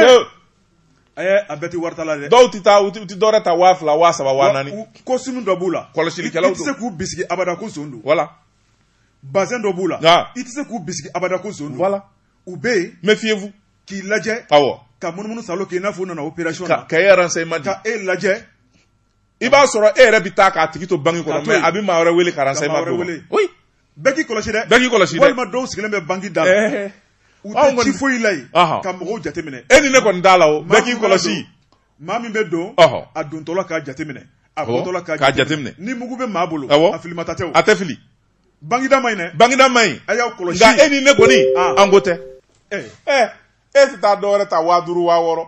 a bɛɛ tɛ waritala dɛ dɔw tɛ taa u tɛ dɔwɛrɛ ta waa fila waa saba waa naani costume dɔ b'u la kɔlɔsi i tɛ se k'u bisigi abada ko son don wala bazin dɔ b'u la i tɛ se k'u bisigi abada ko son don wala u bɛ yen méfiez-vous k'i lajɛ ka munumunu salon k'i n'a fɔ u nana opération na ka e renseignement ta ka e lajɛ i b'a sɔrɔ e yɛrɛ bɛ taa k'a tigi to banki kɔnɔ mɛ a bɛ maa wɛrɛ wele ka renseignement d'o oui bɛɛ k'i kɔlɔsi dɛ bɛɛ k'i kɔlɔsi walima dɔw sigilen bɛ banki da la u tɛ ci foyi la yen ka mɔgɔw jateminɛ e ni ne kɔni t'a la o bɛɛ k'i kɔlɔsi maa min bɛ don a dontɔla k'a jateminɛ a bɔtɔla k'a jateminɛ ni mugu bɛ maa bolo a fili ma ta tɛ a tɛ fili bangida ma ɲi dɛ bangida ma ɲi a y'aw kɔlɔsi nka e ni ne kɔni an ko tɛ e e tɛ taa dɔwɛrɛ ta waa duuru waa wɔɔrɔ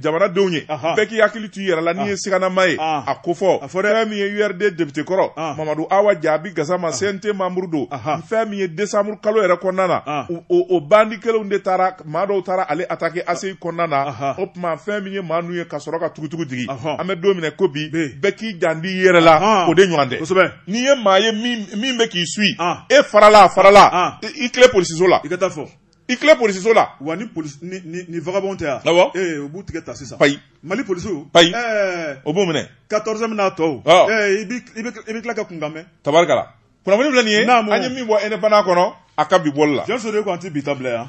jamanadenw ye bɛɛ k'i hakili to i yɛrɛ la n'i ye siganama ye a ko fɔ fɛn min ye urd depite kɔrɔ mamadu awa jaabi gasama cnt manburu don fɛn min ye desanburu kalo yɛrɛ kɔnɔna na o bandi kelenw de taara maa dɔw taara ale atake aci kɔnɔna na o tuma fɛn min ye maa nu ye ka sɔrɔ ka tugutugu digi an bɛ don min na i ko bi bɛɛ k'i janto i yɛrɛ la o de ɲɔgɔn tɛ n'i ye maa ye min bɛ k'i suivre e farala a farala i tilen polisiso la i ka taa fɔ i tilen polisiso la wa ni vagabɔn tɛ yan awɔ ee u b'u tigɛ ta sisan payi mali polisiw payi o b'u minɛ 14 min n'a tɔw i bɛ tila k'a kunkan mɛn tabarikala kunnafoni filɛ nin ye an ye min bɔ indépendant kɔnɔ a ka bi bɔli la jɔn sɔrɔ e ko an tɛ bi ta bila yan